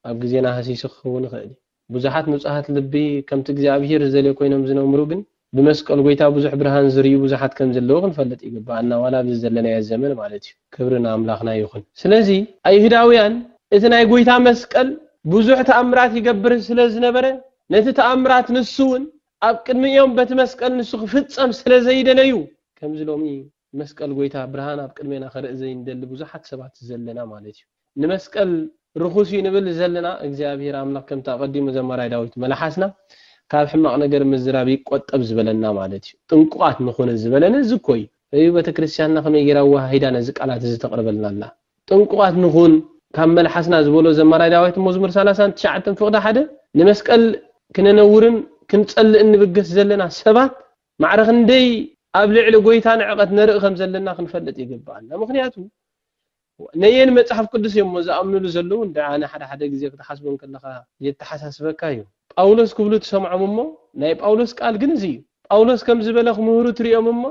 ኣብ ግዜና ሃሲሱ ክኸውን ይኽእል እዩ። ብዙሓት ንጹሃት ልቢ ከምቲ እግዚኣብሄር ዝደልዮ ኮይኖም ዝነምሩ ግን ብመስቀል ጎይታ ብዙሕ ብርሃን ዝርእዩ ብዙሓት ከም ዘለዉ ክንፈልጥ ይግብኣና ዋላ ኣብዚ ዘለናዮ ዘመን ማለት እዩ። ክብሪ ንኣምላኽና ይኹን። ስለዚ ኣይሁዳውያን እቲ ናይ ጎይታ መስቀል ብዙሕ ተኣምራት ይገብር ስለ ዝነበረ ነቲ ተኣምራት ንሱ እውን ኣብ ቅድሚኦም በቲ መስቀል ንሱ ክፍጸም ስለ ዘይደለዩ ከምዚ ሎሚ መስቀል ጎይታ ብርሃን ኣብ ቅድሜና ክርእ ዘይንደሊ ብዙሓት ሰባት ዘለና ማለት እዩ። ንመስቀል ርኹስ እዩ ንብል ዘለና እግዚኣብሔር ኣምላኽ ከምቲ ኣቐዲሙ ዘማራይ ዳዊት መላሓስና ካብ ሕማቕ ነገር ምዝራብ ይቆጠብ ዝበለና ማለት እዩ። ጥንቁቓት ንኹን ዝበለነ እዚ እኮ እዩ። እዩ በተክርስቲያንና ከመይ ገይራ ኣወሃሂዳ ነዚ ቃላት እዚ ተቕርበልና ኣላ። ጥንቁቓት ንኹን፣ ካብ መልሓስና ዝበሎ ዘማራይ ዳዊት መዝሙር ሰላሳን ትሽዓተን ፍቕዲ ሓደ፣ ንመስቀል ክነነውርን ክንጸልእን ንብገስ ዘለና ሰባት፣ ማዕረ ክንደይ ኣብ ልዕሊ ጐይታ ንዕቀት ነርኢ ከም ዘለና ክንፈልጥ ይግብኣና። ምኽንያቱ፣ ነየን መጽሓፍ ቅዱስ እዮም'ሞ ዝኣምኑሉ ዘለዉ እንድዒ ሓደ ሓደ ግዜ ክትሓስቦ እንከለኻ የተሓሳስበካ እዩ። ጳውሎስ ክብሉ ትሰምዖም እሞ፣ ናይ ጳውሎስ ቃል ግን እዚ እዩ። ጳውሎስ ከምዚ በለ ክምህሩ ትርእዮም እሞ፣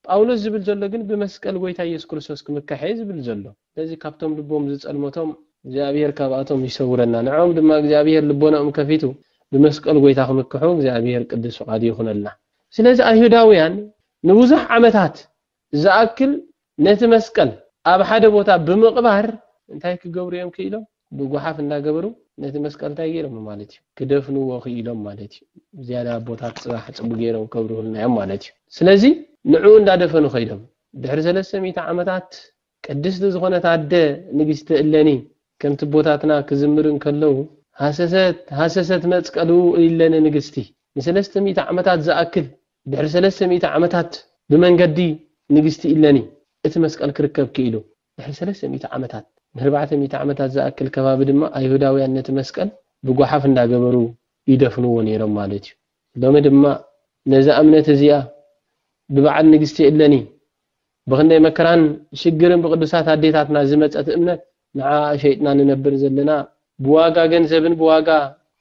ጳውሎስ ዝብል ዘሎ ግን ብመስቀል ጎይታ ኢየሱስ ክርስቶስ ክምካሕ እየ ዝብል ዘሎ። ስለዚ ካብቶም ልቦም ዝጸልመቶም እግዚኣብሔር ካብኣቶም ይሰውረና ንዕኦም ድማ እግዚኣብሔር ልቦናኦም ከፊቱ ብመስቀል ጎይታ ክምክሑ እግዚኣብሔር ቅዱስ ፍቃዱ ይኹነልና። ስለዚ ኣይሁዳውያን ንብዙሕ ዓመታት ዝኣክል ነቲ መስቀል ኣብ ሓደ ቦታ ብምቅባር እንታይ ክገብሩ እዮም ክኢሎም? ብጉሓፍ እንዳገበሩ ነቲ መስቀል ታይ ገይሮሞ ማለት እዩ ክደፍንዎ ክኢሎም ማለት እዩ ዝያዳ ኣቦታት ፅባሕ ፅቡ ገይሮም ከብርሁልና እዮም ማለት እዩ ስለዚ ንዑኡ እንዳደፈኑ ከይዶም ድሕሪ ሰለስተ ሚእቲ ዓመታት ቅድስቲ ዝኾነት ኣደ ንግስቲ እለኒ ከምቲ ኣቦታትና ክዝምር እንከለው ሃሰሰት ሃሰሰት መፅቀሉ እለኒ ንግስቲ ንሰለስተ ሚእቲ ዓመታት ዝኣክል ድሕሪ ሰለስተ ሚእቲ ዓመታት ብመንገዲ ንግስቲ እለኒ እቲ መስቀል ክርከብ ክኢሉ ድሕሪ ሰለስተ ሚእቲ ዓመታት፣ ንርባዕተ ሚእቲ ዓመታት ዝኣክል ከባቢ ድማ ኣይሁዳውያን ነቲ መስቀል ብጓሓፍ እንዳገበሩ ይደፍንዎ ነይሮም ማለት እዩ። ሎሚ ድማ ነዛ እምነት እዚኣ ብበዓል ንግስቲ እለኒ ብኽንደይ መከራን ሽግርን ብቅዱሳት ኣዴታትና ዝመጸት እምነት ንዓኣ ሸይጥና ንነብር ዘለና ብዋጋ ገንዘብን ብዋጋ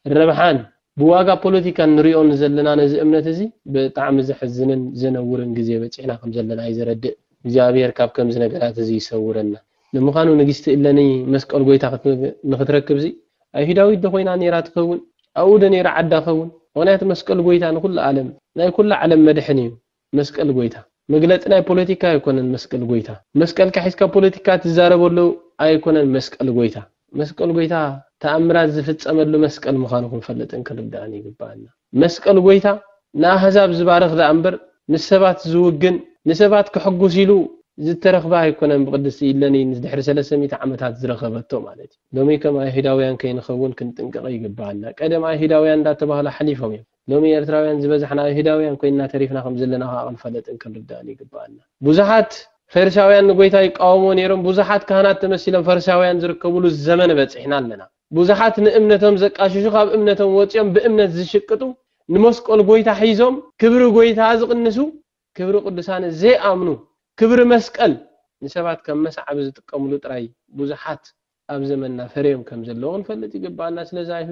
ረብሓን ብዋጋ ፖለቲካን ንሪኦ ንዘለና ነዚ እምነት እዚ ብጣዕሚ ዘሕዝንን ዘነውርን ግዜ በጺሕና ከም ዘለና እዩ ዘረድእ። እግዚኣብሄር ካብ ከምዚ ነገራት እዚ ይሰውረና። ንምዃኑ ንግስቲ እለኒ መስቀል ጎይታ ንኽትረክብሲ ኣይሁዳዊት ዶ ኮይና ኔራ ትኸውን? ኣብኡ ዶ ኔራ ዓዳ ኸውን? ምኽንያቱ መስቀል ጎይታ ንኹሉ ኣለም ናይ ኩላ ዓለም መድሕን እዩ። መስቀል ጎይታ መግለጺ ናይ ፖለቲካ ኣይኮነን መስቀል ጎይታ መስቀልካ ሒዝካ ፖለቲካ ትዛረበሉ ኣይኮነን መስቀል ጎይታ መስቀል ጎይታ ተኣምራት ዝፍጸመሉ መስቀል ምዃኑ ክንፈልጥን ክንርዳእን ይግባኣና መስቀል ጎይታ ንኣህዛብ ዝባርኽ ደኣ እምበር ምስ ሰባት ዝውግን ንሰባት ከሕጉስ ኢሉ ዝተረኽበ ኣይኮነን ብቅድስቲ ኢለኒ ድሕሪ ሰለስተ ሚእቲ ዓመታት ዝረኸበቶ ማለት እዩ ሎሚ ከም ኣይሁዳውያን ከይንኸውን ክንጥንቀቕ ይግባኣና ቀደም ኣይሁዳውያን እንዳተባህሉ ሓሊፎም እዮም ሎሚ ኤርትራውያን ዝበዛሕና ኣይሁዳውያን ኮይንና ተሪፍና ከም ዘለና ከኣ ክንፈለጥን ክንርዳእን ይግበኣና። ብዙሓት ፈሪሳውያን ንጎይታ ይቃወምዎ ነይሮም፣ ብዙሓት ካህናት ተመሲሎም ፈሪሳውያን ዝርከብሉ ዘመን በጺሕና ኣለና። ብዙሓት ንእምነቶም ዘቃሽሹ ካብ እምነቶም ወጺኦም ብእምነት ዝሽቅጡ፣ ንመስቆል ጎይታ ሒዞም ክብሪ ጎይታ ዝቕንሱ፣ ክብሪ ቅዱሳን ዘይኣምኑ፣ ክብሪ መስቀል ንሰባት ከም መስዓቢ ዝጥቀምሉ ጥራይ ብዙሓት ኣብ ዘመንና ፈርዮም ከም ዘለዉ ክንፈልጥ ይግብኣና። ስለዚ ኣብ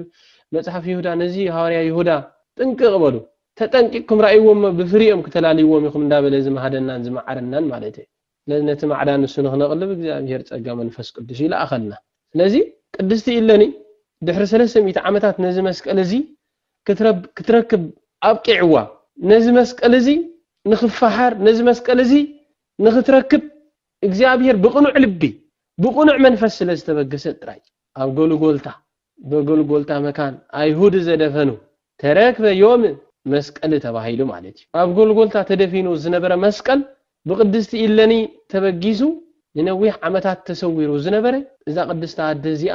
መጽሓፍ ይሁዳ ነዚ እዩ ሃዋርያ ይሁዳ ጥንቅቕ በሉ፣ ተጠንቂቕኩም ርኣይዎም እሞ ብፍሪኦም ክተላልይዎም ኢኹም እንዳበለ ዝመሃደናን ዝመዓረናን ማለት እዩ። ስለዚ ነቲ ማዕዳ ንሱ ንኽነቕልብ እግዚኣብሄር ጸጋ መንፈስ ቅዱስ እዩ ለኣኸልና። ስለዚ ቅድስቲ ኢለኒ ድሕሪ ሰለስተ ሚእቲ ዓመታት ነዚ መስቀል እዚ ክትረክብ ኣብቂዕዋ። ነዚ መስቀል እዚ ንኽፈሓር ነዚ መስቀል እዚ ንኽትረክብ እግዚኣብሔር ብቕኑዕ ልቢ ብቕኑዕ መንፈስ ስለ ዝተበገሰት ጥራይ ኣብ ጎልጎልታ በጎልጎልታ መካን ኣይሁድ ዘደፈኑ ተረክበ ዮም መስቀል ተባሂሉ ማለት እዩ። ኣብ ጎልጎልታ ተደፊኑ ዝነበረ መስቀል ብቅድስቲ ኢለኒ ተበጊሱ ንነዊሕ ዓመታት ተሰዊሩ ዝነበረ እዛ ቅድስቲ ኣደ እዚኣ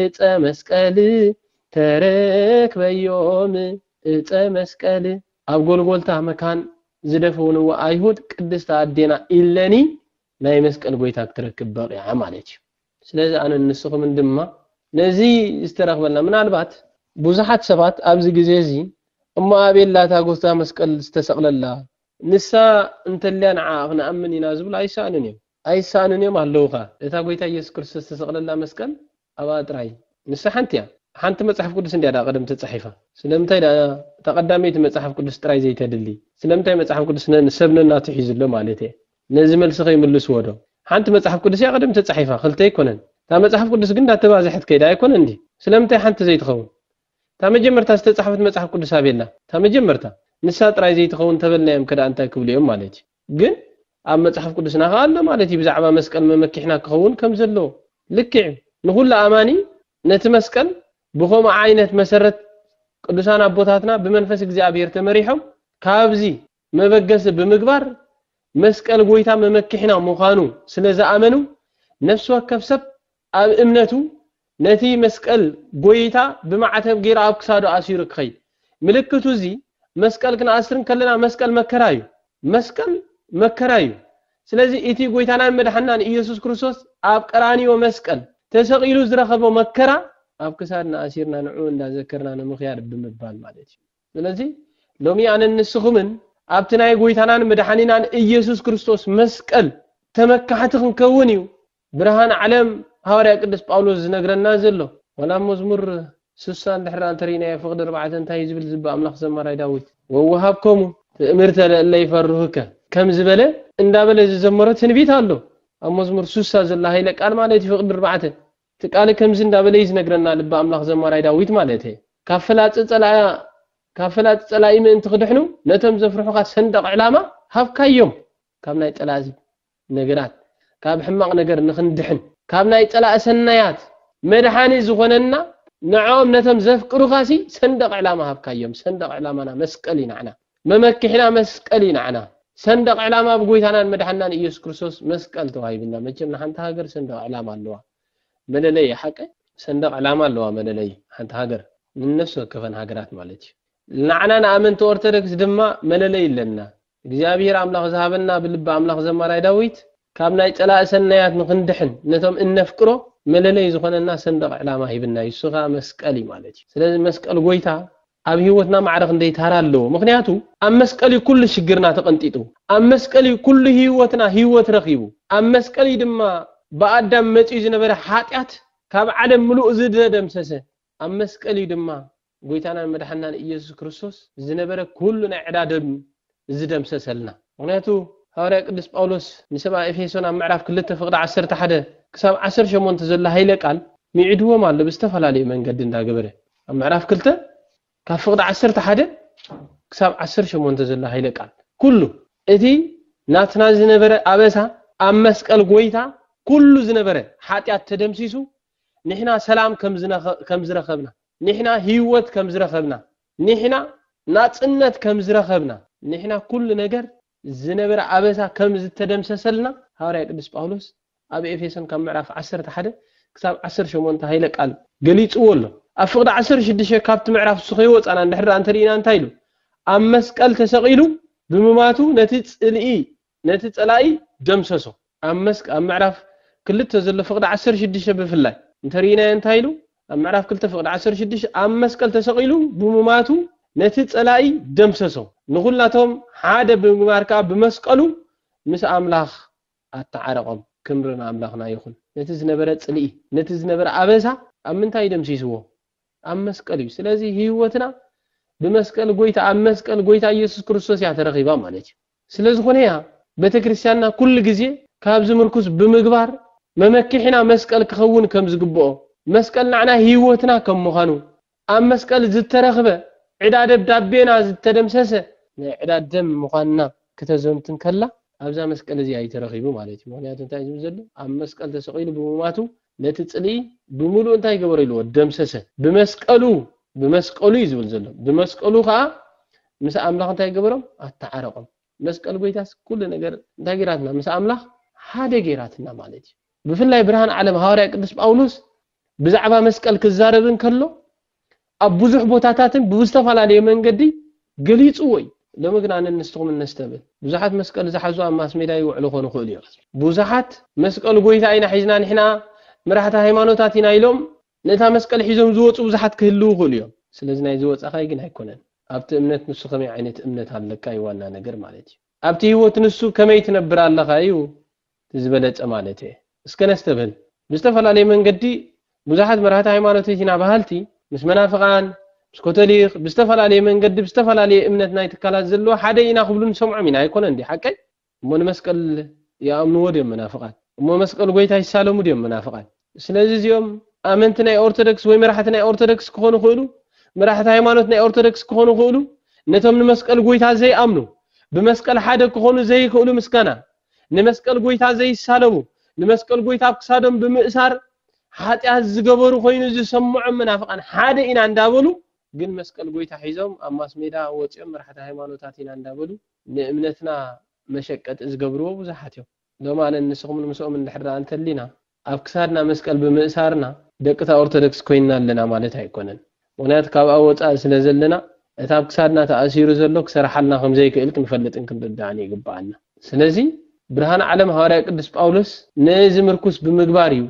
እፀ መስቀል ተረክበዮም እፀ መስቀል። ኣብ ጎልጎልታ መካን ዝደፈውንዋ ኣይሁድ ቅድስቲ ኣዴና ኢለኒ ናይ መስቀል ጎይታ ክትረክብ በቂዓ ማለት እዩ። ስለዚ ኣነን ንስኹምን ድማ ነዚ ዝተረኽበልና ምናልባት ብዙሓት ሰባት ኣብዚ ግዜ እዚ እሞ ኣቤል ላታ ጎታ መስቀል ዝተሰቅለላ ንሳ እንተልያ ንዓኣ ክንኣምን ኢና ዝብሉ ኣይሰኣኑን እዮም። ኣይሳኣኑን እዮም ኣለዉኻ እታ ጎይታ እየሱስ ክርስቶስ ዝተሰቅለላ መስቀል ኣብኣ ጥራይ ንሳ ሓንቲ እያ ሓንቲ መጽሓፍ ቅዱስ እንድያ ድኣ ቀደም ተጻሒፋ ስለምንታይ ድኣ እታ ቀዳመይቲ መጽሓፍ ቅዱስ ጥራይ ዘይተድሊ ስለምንታይ መጽሓፍ ቅዱስ ሰብ ነናቱ ሒዙ ኣሎ ማለት እየ ነዚ መልሲ ከይምልስዎ ዶ ሓንቲ መጽሓፍ ቅዱስ እያ ቀደም ተጻሒፋ ክልተ ኣይኮነን እታ መጽሓፍ ቅዱስ ግን እንዳተባዘሐት ከይዳ ኣይኮነን ድዩ ስለምንታይ ሓንቲ ዘይትኸውን እታ መጀመርታ ዝተጻሕፈት መጽሓፍ ቅዱስ ኣበይ ኣላ እታ መጀመርታ ንሳ ጥራይ ዘይትኸውን ተበልናዮም ከድኣ እንታይ ክብሉ እዮም ማለት እዩ ግን ኣብ መጽሓፍ ቅዱስና ከኣ ኣሎ ማለት እዩ ብዛዕባ መስቀል መመኪሕና ክኸውን ከም ዘለዎ ልክዕ እዩ ንኹሉ ኣማኒ ነቲ መስቀል ብኸምኡ ዓይነት መሰረት ቅዱሳን ኣቦታትና ብመንፈስ እግዚኣብሔር ተመሪሖም ካብዚ መበገሲ ብምግባር መስቀል ጎይታ መመኪሕና ምዃኑ ስለ ዝኣመኑ ነፍሲ ወከፍ ሰብ ኣብ እምነቱ ነቲ መስቀል ጎይታ ብማዕተብ ገይሩ ኣብ ክሳዱ ኣሲሩ ክኸይድ ምልክቱ እዚ መስቀል ክንኣስር እንከለና መስቀል መከራ እዩ መስቀል መከራ እዩ ስለዚ እቲ ጎይታናን መድሓንናን እየሱስ ክርስቶስ ኣብ ቀራንዮ መስቀል ተሰቒሉ ዝረኸቦ መከራ ኣብ ክሳድና ኣሲርና ንዕኡ እንዳዘከርና ንምኽያድ ብምባል ማለት እዩ ስለዚ ሎሚ ኣነን ንስኹምን ኣብቲ ናይ ጎይታናን መድሓኒናን እየሱስ ክርስቶስ መስቀል ተመካሕቲ ክንከውን እዩ ብርሃን ዓለም ሃዋርያ ቅዱስ ጳውሎስ ዝነግረና ዘሎ። ዋላ ኣብ መዝሙር ስሳ እንድሕር ኣንተሪእናዮ ፍቅዲ ኣርባዕተ እንታይ እዩ ዝብል ዝብ ኣምላኽ ዘማራይ ዳዊት ወወሃብከሙ ትእምርተ ለእለ ይፈርሁከ ከም ዝበለ እንዳበለ ዝዘመሮ ትንቢት ኣሎ ኣብ መዝሙር ስሳ ዘሎ ሃይለ ቃል ማለት እዩ ፍቅዲ ኣርባዕተ እቲ ቃል ከምዚ እንዳበለ እዩ ዝነግረና ልበ ኣምላኽ ዘማራይ ዳዊት ማለት እየ ካብ ፍላጽ ጸላኢ ካብ ፍላጽ ጸላኢ ምእንቲ ክድሕኑ ነቶም ዘፍርሑካ ሰንደቅ ዕላማ ሃብካዮም ካብ ናይ ጠላእዚ ነገራት ካብ ሕማቕ ነገር ንኽንድሕን ካብ ናይ ጸላኢ ሰናያት መድሓኒ ዝኾነና ንዕኦም ነቶም ዘፍቅሩኻሲ ሰንደቕ ዕላማ ሃብካዮም ሰንደቕ ዕላማና መስቀል እዩ ናዕና መመክሒና መስቀል እዩ ናዕና ሰንደቕ ዕላማ ብጎይታናን መድሓናን ኢየሱስ ክርስቶስ መስቀል ተዋሂብና መቸም ንሓንቲ ሃገር ሰንደቕ ዕላማ ኣለዋ መለለይ ሓቀ ሰንደቕ ዕላማ ኣለዋ መለለይ ሓንቲ ሃገር ንነፍሲ ወከፈን ሃገራት ማለት እዩ ናዕና ንኣመንቲ ኦርቶዶክስ ድማ መለለይ ኣለና እግዚኣብሄር ኣምላኽ ዝሃበና ብልቢ ኣምላኽ ዘማራይ ዳዊት ካብ ናይ ጸላኢ ሰናያት ንኽንድሕን ነቶም እነፍቅሮ መለለይ ዝኾነና ሰንደቕ ዕላማ ሂብና እዩ እሱ ከኣ መስቀል እዩ ማለት እዩ ስለዚ መስቀል ጎይታ ኣብ ሂወትና ማዕረ ክንደይ ታራ ኣለዎ ምኽንያቱ ኣብ መስቀል እዩ ኩሉ ሽግርና ተቐንጢጡ ኣብ መስቀል እዩ ኩሉ ሂወትና ሂወት ረኺቡ ኣብ መስቀል እዩ ድማ ብኣዳም መጺኡ ዝነበረ ሓጢኣት ካብ ዓለም ምሉእ ዝደደምሰሰ ኣብ መስቀል እዩ ድማ ጎይታናን መድሓንናን ኢየሱስ ክርስቶስ ዝነበረ ኩሉ ናይ ዕዳ ደም ዝደምሰሰልና። ምኽንያቱ ሃዋርያ ቅዱስ ጳውሎስ ንሰብኣ ኤፌሶን ኣብ ምዕራፍ ክልተ ፍቕዲ ዓሰርተ ሓደ ክሳብ ዓሰርተ ሸሞንተ ዘሎ ሃይለ ቃል ሚዒድዎም ኣሎ ብዝተፈላለየ መንገዲ እንዳ ገበረ። ኣብ ምዕራፍ ክልተ ካብ ፍቕዲ ዓሰርተ ሓደ ክሳብ ዓሰርተ ሸሞንተ ዘሎ ሃይለ ቃል ኩሉ እቲ ናትና ዝነበረ ኣበሳ ኣብ መስቀል ጎይታ ኩሉ ዝነበረ ሓጢኣት ተደምሲሱ ንሕና ሰላም ከም ዝረኸብና ኒሕና ሂወት ከም ዝረኸብና ኒሕና ናጽነት ከም ዝረኸብና ኒሕና ኩሉ ነገር ዝነበረ ኣበሳ ከም ዝተደምሰሰልና ሃዋርያ ቅዱስ ጳውሎስ ኣብ ኤፌሶን ካብ ምዕራፍ ዓሰርተ ሓደ ክሳብ ዓሰርተ ሸሞንተ ሃይለ ቃል ገሊጽዎ ኣሎ ኣብ ፍቕዲ ዓሰርተ ሽዱሽተ ካብቲ ምዕራፍ ንሱ ከይወጻና እንድሕር እንተ ርኢና እንታይ ኢሉ ኣብ መስቀል ተሰቒሉ ብምማቱ ነቲ ጽልኢ ነቲ ጸላኢ ደምሰሶ። ኣብ መስክ ኣብ ምዕራፍ ክልተ ዘሎ ፍቕዲ ዓሰርተ ሽዱሽተ ብፍላይ እንተርኢናዮ እንታይ ኢሉ ኣብ ምዕራፍ ክልተ ፍቕዲ ዓሰርተ ሽዱሽተ ኣብ መስቀል ተሰቒሉ ብምማቱ ነቲ ጸላኢ ደምሰሶ ንኹላቶም ሓደ ብምግባር ከኣ ብመስቀሉ ምስ ኣምላኽ ኣተዓረቖም ክምሪ ንኣምላኽና ይኹን ነቲ ዝነበረ ጽልኢ ነቲ ዝነበረ ኣበሳ ኣብ ምንታይ እዩ ደምሲስዎ ኣብ መስቀል እዩ ስለዚ ህይወትና ብመስቀል ጎይታ ኣብ መስቀል ጎይታ ኢየሱስ ክርስቶስ እያ ተረኺባ ማለት እዩ ስለ ዝኾነ እያ ቤተ ክርስቲያንና ኩሉ ግዜ ካብዚ ምርኩስ ብምግባር መመኪሕና መስቀል ክኸውን ከም ዝግብኦ መስቀል ናዕና ሕይወትና ከም ምዃኑ ኣብ መስቀል ዝተረኽበ ዕዳ ደብዳቤና ዝተደምሰሰ ናይ ዕዳ ደም ምዃንና ክተዘንቱ እንከላ ኣብዛ መስቀል እዚኣ እዩ ተረኺቡ ማለት እዩ ምኽንያቱ እንታይ እዩ ዝብል ዘሎ ኣብ መስቀል ተሰቒሉ ብምሟቱ ነቲ ጽልኢ ብምሉኡ እንታይ ገበሮ ኢልዎ ደምሰሰ። ብመስቀሉ ብመስቀሉ እዩ ዝብል ዘሎ ብመስቀሉ ከኣ ምስ ኣምላኽ እንታይ ገበሮም ኣተዓረቆም። መስቀል ጎይታስ ኩሉ ነገር እንታይ ጌራትና ምስ ኣምላኽ ሓደ ጌራትና ማለት እዩ። ብፍላይ ብርሃን ዓለም ሃዋርያ ቅዱስ ጳውሎስ ብዛዕባ መስቀል ክዛረብ እንከሎ ኣብ ብዙሕ ቦታታትን ብብዝተፈላለየ መንገዲ ገሊጽዎ እዩ። ሎሚ ግን ኣነን ንስኹምን ነስተብህል። ብዙሓት መስቀል ዝሓዙ ኣብ ማስሜድያ ይውዕሉ ክኾኑ ይኽእሉ እዮም። ብዙሓት መስቀል ጎይታ ኢና ሒዝና ንሕና መራሕቲ ሃይማኖታት ኢና ኢሎም ነታ መስቀል ሒዞም ዝወጹ ብዙሓት ክህልዉ ይኽእሉ እዮም። ስለዚ ናይ ዝወጻኻይ ግን ኣይኮነን። ኣብቲ እምነት ንሱ ከመይ ዓይነት እምነት ኣለካ እዩ ዋና ነገር ማለት እዩ። ኣብቲ ህይወት ንሱ ከመይ ትነብር ኣለኻ እዩ እቲ ዝበለጸ ማለት እየ። እስከ ነስተብህል። ብዝተፈላለየ መንገዲ ብዙሓት መራሕቲ ሃይማኖት ኢና በሃልቲ ምስ መናፍቓን፣ ምስ ኮቶሊኽ፣ ብዝተፈላለየ መንገዲ ብዝተፈላለየ እምነት ናይ ትካላት ዘለዎ ሓደ ኢና ክብሉ ንሰምዖም ኢና ኣይኮነን ድዩ ሓቀይ? እሞ ንመስቀል ይኣምንዎ ድዮም መናፍቓን? እሞ መስቀል ጎይታ ይሳለሙ ድዮም መናፍቓን? ስለዚ እዚኦም ኣመንቲ ናይ ኦርቶዶክስ ወይ መራሕቲ ናይ ኦርቶዶክስ ክኾኑ ይኽእሉ፣ መራሕቲ ሃይማኖት ናይ ኦርቶዶክስ ክኾኑ ይኽእሉ፣ ነቶም ንመስቀል ጎይታ ዘይኣምኑ፣ ብመስቀል ሓደ ክኾኑ ዘይኽእሉ ምስጋና ንመስቀል ጎይታ ዘይሳለሙ፣ ንመስቀል ጎይታ ኣብ ክሳዶም ብምእሳር ሓጢኣት ዝገበሩ ኮይኑ ዝሰመዖም መናፍቓን ሓደ ኢና እንዳበሉ ግን መስቀል ጎይታ ሒዞም ኣብ ማስሜዳ ወጺኦም መራሕቲ ሃይማኖታት ኢና እንዳበሉ ንእምነትና መሸቀጢ ዝገብርዎ ብዙሓት እዮም። ሎማንን ንስኹምን ምስኦም እንድሕር ደኣ እንተሊና ኣብ ክሳድና መስቀል ብምእሳርና ደቂ'ታ ኦርቶደክስ ኮይንና ኣለና ማለት ኣይኮነን። ምኽንያቱ ካብኣ ወጻኢ ስለ ዘለና እቲ ኣብ ክሳድና ተኣሲሩ ዘሎ ክሰርሓልና ከም ዘይክእል ክንፈልጥን ክንርዳእን ይግብኣና። ስለዚ ብርሃን ዓለም ሃዋርያ ቅዱስ ጳውሎስ ነዚ ምርኩስ ብምግባር እዩ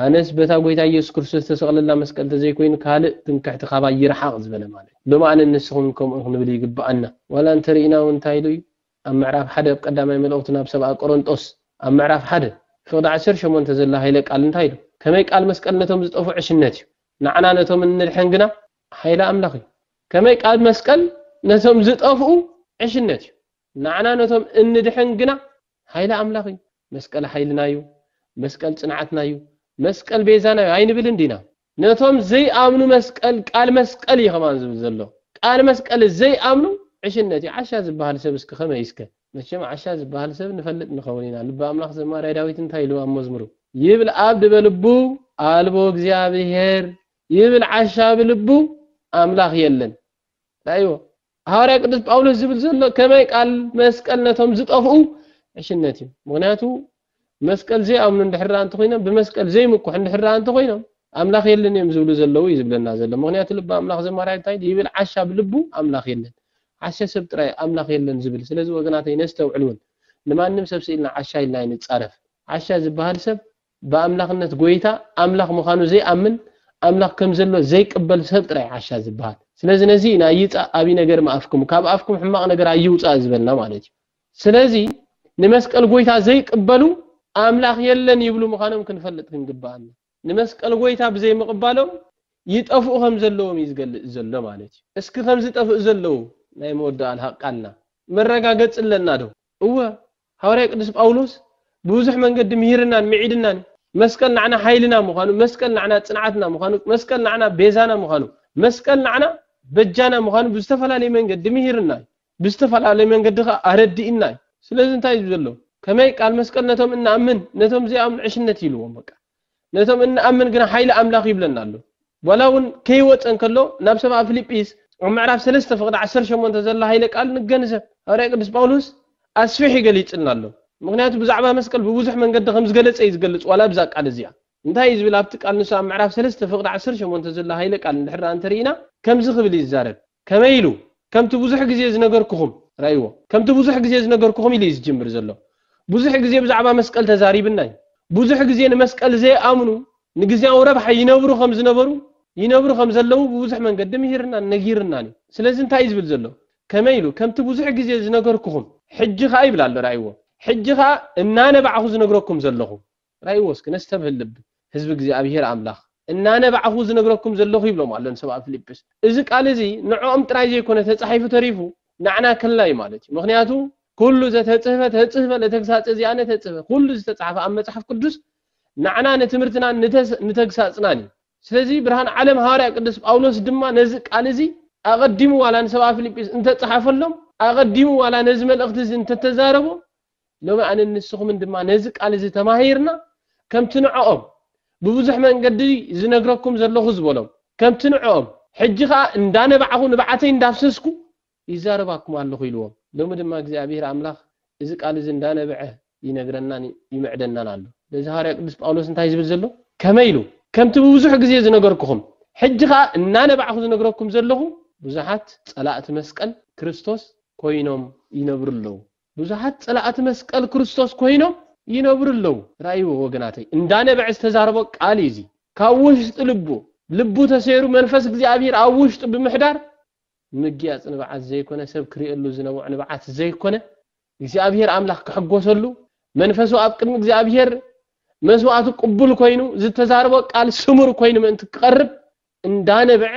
ኣነስ በታ ጎይታ ኢየሱስ ክርስቶስ ዝተሰቕለላ መስቀል ተዘይኮይኑ ካልእ ትምክሕቲ ካባይ ይርሓቕ ዝበለ ማለት እዩ። ሎማንን ንስኹምን ከምኡ ክንብል ይግብኣና። ዋላ እንተርኢና እውን እንታይ ኢሉ እዩ ኣብ ምዕራፍ ሓደ ኣብ ቀዳማይ መልእኽቱ ናብ ሰብኣ ቆረንጦስ ኣብ ምዕራፍ ሓደ ፍቕዲ ዓሰርተ ሸሞንተ ዘላ ሃይለ ቃል እንታይ ዶ ከመይ ቃል መስቀል ነቶም ዝጠፍኡ ዕሽነት እዩ ንዓና ነቶም እንድሕን ግና ሃይለ ኣምላኽ እዩ ከመይ ቃል መስቀል ነቶም ዝጠፍኡ ዕሽነት እዩ ንዓና ነቶም እንድሕን ግና ሃይለ ኣምላኽ እዩ መስቀል ሓይልና እዩ መስቀል ጽንዓትና እዩ መስቀል ቤዛና እዩ ኣይንብልን ዲና ነቶም ዘይኣምኑ መስቀል ቃል መስቀል እዩ ከማን ዝብል ዘሎ ቃል መስቀል ዘይኣምኑ ዕሽነት እዩ ዓሻ ዝብሃል ሰብ እስከ ከመይ እስከ መቸም ዓሻ ዝብሃል ሰብ ንፈልጥ ንኸውን ኢና ልበ ኣምላኽ ዘማርያ ዳዊት እንታይ ኢሉ ኣብ መዝሙሩ ይብል ኣብ ድበ ልቡ ኣልቦ እግዚኣብሔር ይብል ዓሻ ብልቡ ኣምላኽ የለን ራእይዎ። ሃዋርያ ቅዱስ ጳውሎስ ዝብል ዘሎ ከመይ ቃል መስቀል ነቶም ዝጠፍኡ ዕሽነት እዩ ምክንያቱ መስቀል ዘይኣምኑ እንድሕር ደኣ እንተኾይኖም ብመስቀል ዘይምኩሕ እንድሕር ደኣ እንተኾይኖም ኣምላኽ የለን እዮም ዝብሉ ዘለዉ እዩ ዝብለና ዘሎ ምክንያቱ ልቢ ኣምላኽ ዘማርያ እንታይ ይብል ዓሻ ብልቡ ኣምላኽ የለን ዓሻ ሰብ ጥራይ ኣምላኽ የለን ዝብል ስለዚ ወገናተይ ነስተውዕል እውን ንማንም ሰብ ስኢልና ዓሻ ኢልና ኣይንጻረፍ ዓሻ ዝበሃል ሰብ ብኣምላኽነት ጎይታ ኣምላኽ ምኻኑ ዘይኣምን ኣምላኽ ከም ዘሎ ዘይቅበል ሰብ ጥራይ ዓሻ ዝበሃል። ስለዚ ነዚ ኢና ይጻእ ኣቢ ነገር ምኣፍክሙ ካብ ኣፍኩም ሕማቕ ነገር ኣይውጻእ ዝበልና ማለት እዩ። ስለዚ ንመስቀል ጎይታ ዘይቅበሉ ኣምላኽ የለን ይብሉ ምኻኖም ክንፈልጥ ክንግብኣና። ንመስቀል ጎይታ ብዘይ ምቕባሎም ይጠፍኡ ከም ዘለዎም እዩ ዝገልጽ ዘሎ ማለት እዩ። እስኪ ከም ዝጠፍእ ዘለዉ ናይ መወዳኣል ሃቃልና መረጋገጺ ኣለና ዶ? እወ ሃዋርያ ቅዱስ ጳውሎስ ብብዙሕ መንገዲ ምሂርናን ምዒድናን እዩ። መስቀል ንዓና ሓይልና ምዃኑ፣ መስቀል ንዓና ጽንዓትና ምዃኑ፣ መስቀል ንዓና ቤዛና ምዃኑ፣ መስቀል ንዓና በጃና ምዃኑ ብዝተፈላለየ መንገዲ ምሂርና እዩ። ብዝተፈላለየ መንገዲ ከኣ ኣረዲእና እዩ። ስለዚ እንታይ እዩ ዘሎ? ከመይ ቃል መስቀል ነቶም እንኣምን ነቶም ዘይኣምኑ ዕሽነት እዩ ኢልዎም በቃ። ነቶም እንኣምን ግና ሓይሊ ኣምላኽ ይብለና ኣሎ። ዋላ እውን ከይወጸ እንከሎ ናብ ሰብኣ ፊልጲስ ኣብ ምዕራፍ ሰለስተ ፍቕዲ ዓሰርተ ሸሞንተ ዘላ ሃይለ ቃል ንገንዘብ። ሃዋርያ ቅዱስ ጳውሎስ ኣስፊሕ እዩ ገሊጽልና ኣሎ። ምኽንያቱ ብዛዕባ መስቀል ብብዙሕ መንገዲ ከም ዝገለጸ እዩ ዝገልጽ ዋላ ኣብዛ ቃል እዚኣ። እንታይ እዩ ዝብል ኣብቲ ቃል ንሱ ኣብ ምዕራፍ ሰለስተ ፍቕዲ ዓሰርተ ሸሞንተ ዘላ ሃይለ ቃል እንድሕር ደኣ እንተርኢና ከምዚ ክብል እዩ ዝዛረብ። ከመይ ኢሉ? ከምቲ ብዙሕ ግዜ ዝነገርኩኹም። ርኣይዎ፣ ከምቲ ብዙሕ ግዜ ዝነገርኩኹም ኢሉ እዩ ዝጅምር ዘሎ። ብዙሕ ግዜ ብዛዕባ መስቀል ተዛሪብና እዩ። ብዙሕ ግዜ ንመስቀል ዘይኣምኑ ንግዝያዊ ረብሓ ይነብሩ ከም ዝነበሩ፣ ይነብሩ ከም ዘለዉ ብብዙሕ መንገዲ ምሂርናን ነጊርናን እዩ። ስለዚ እንታይ እዩ ዝብል ዘሎ? ከመይ ኢሉ? ከምቲ ብዙሕ ግዜ ዝነገርኩኹም። ሕጂ ኸኣ ይብል ኣሎ፣ ርኣይዎ፣ ሕጂ ኸኣ እናነባዕኹ ዝነግረኩም ዘለኹ። ጥራይዎስ ክነስተብህል ልብ ህዝቢ እግዚኣብሄር ኣምላኽ እናነባዕኹ ዝነግረኩም ዘለኹ ይብሎም ኣሎ ንሰብኣብ ፊልጵስ። እዚ ቃል እዚ ንዕኦም ጥራይ ዘይኮነ ተጻሒፉ ተሪፉ ናዕና ከልና እዩ ማለት እዩ። ምኽንያቱ ኩሉ ዘተጽህፈ ተጽህፈ ለተግሳጸ ዚኣነ ተጽህፈ ኩሉ ዝተጻሕፈ ኣብ መጽሓፍ ቅዱስ ናዕና ንትምህርትናን ንተግሳጽናን እዩ። ስለዚ ብርሃን ዓለም ሃዋርያ ቅዱስ ጳውሎስ ድማ ነዚ ቃል እዚ ኣቐዲሙ ዋላ ንሰብኣብ ፊልጵስ እንተጸሓፈሎም ኣቐዲሙ ዋላ ነዚ መልእኽቲ እዚ እንተተዛረቦ ሎሚ ኣነን ንስኹምን ድማ ነዚ ቃል እዚ ተማሂርና ከምቲ ንዕኦም ብብዙሕ መንገዲ ዝነግረኩም ዘለኹ ዝበሎም ከምቲ ንዕኦም ሕጂ ከኣ እንዳነባዕኹ ንብዓተይ እንዳፍሰስኩ ይዛረባኩም ኣለኹ ኢልዎም። ሎሚ ድማ እግዚኣብሄር ኣምላኽ እዚ ቃል እዚ እንዳነበዐ ይነግረናን ይምዕደናን ኣሎ። ስለዚ ሃዋርያ ቅዱስ ጳውሎስ እንታይ ዝብል ዘሎ ከመይ ኢሉ ከምቲ ብብዙሕ ግዜ ዝነገርኩኹም ሕጂ ከኣ እናነባዕኹ ዝነግረኩም ዘለኹ ብዙሓት ጸላእቲ መስቀል ክርስቶስ ኮይኖም ይነብሩ ኣለዉ። ብዙሓት ጸላእቲ መስቀል ክርስቶስ ኮይኖም ይነብሩ ኣለዉ ራእይዎ ወገናተይ እንዳ ነበዐ ዝተዛረቦ ቃል እዩ እዚ ካብ ውሽጢ ልቡ ልቡ ተሰይሩ መንፈስ እግዚኣብሂር ኣብ ውሽጡ ብምሕዳር ምግያጽ ንብዓት ዘይኮነ ሰብ ክሪኤሉ ዝነብዖ ንብዓት ዘይኮነ እግዚኣብሂር ኣምላኽ ክሕጎሰሉ መንፈሱ ኣብ ቅድሚ እግዚኣብሂር መስዋእቱ ቅቡል ኮይኑ ዝተዛረቦ ቃል ስሙር ኮይኑ ምእንቲ ክቐርብ እንዳ ነበዐ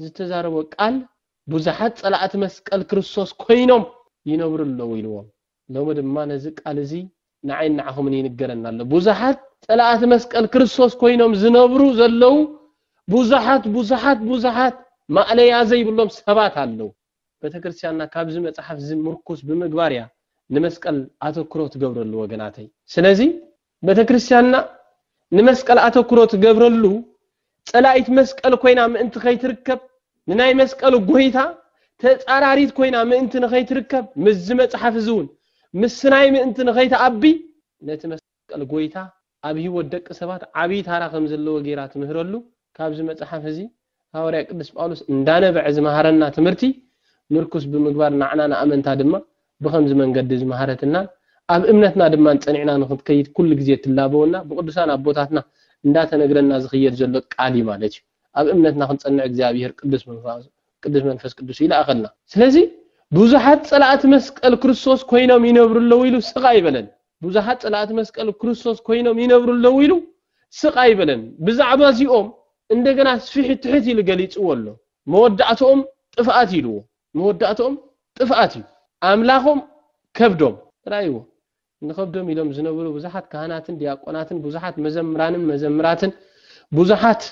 ዝተዛረቦ ቃል ቡዛሓት ጸላእቲ መስቀል ክርስቶስ ኮይኖም ይነብሩ ኣለዉ ኢልዎም ሎሚ ድማ ነዚ ቃል እዚ ንዓይን ንዓኹምን ይንገረና ኣሎ ቡዛሓት ጸላእቲ መስቀል ክርስቶስ ኮይኖም ዝነብሩ ዘለዉ ቡዛሓት ቡዛሓት ቡዛሓት ማእለያ ዘይብሎም ሰባት ኣለዉ ቤተክርስትያንና ካብዚ መጽሓፍ እዚ ምርኩስ ብምግባር እያ ንመስቀል ኣተክሮ ትገብረሉ ወገናተይ ስለዚ ቤተክርስቲያንና ንመስቀል ኣተኩሮ ትገብረሉ ጸላኢት መስቀል ኮይና ምእንቲ ከይትርከብ ንናይ መስቀል ጎይታ ተጻራሪት ኮይና ምእንቲ ንኸይትርከብ ምስዚ መጽሓፍ እዚ እውን ምስናይ ምእንቲ ንኸይትኣቢ ነቲ መስቀል ጎይታ ኣብ ሕይወት ደቂ ሰባት ዓቢይ ታራ ከም ዘለዎ ገይራ ትምህረሉ ካብዚ መጽሓፍ እዚ ሃዋርያ ቅዱስ ጳውሎስ እንዳነበዐ ዝመሃረና ትምህርቲ ምርኩስ ብምግባር ናዕና ንኣመንታ ድማ ብኸምዚ መንገዲ ዝመሃረትናን ኣብ እምነትና ድማን ጸኒዕና ንኽትከይድ ኩሉ ግዜ ትላበወና ብቅዱሳን ኣቦታትና እንዳተነግረና ዝኽየድ ዘሎ ቃል እዩ ማለት እዩ ኣብ እምነትና ክንጸንዕ እግዚኣብሔር ቅዱስ መንፋሱ ቅዱስ መንፈስ ቅዱስ ይልኣኸልና ስለዚ ብዙሓት ጸላእቲ መስቀል ክርስቶስ ኮይኖም ይነብሩ ኣለዉ ኢሉ ስቕ ኣይበለን ብዙሓት ጸላእቲ መስቀል ክርስቶስ ኮይኖም ይነብሩ ኣለዉ ኢሉ ስቕ ኣይበለን። ብዛዕባ እዚኦም እንደገና ስፍሕ ትሕት ኢሉ ገሊጽዎ ኣሎ። መወዳእትኦም ጥፍኣት ኢልዎ። መወዳእትኦም ጥፍኣት እዩ። ኣምላኾም ከብዶም። ርኣይዎ፣ ንኸብዶም ኢሎም ዝነብሩ ብዙሓት ካህናትን ዲያቆናትን ብዙሓት መዘምራንን መዘምራትን ብዙሓት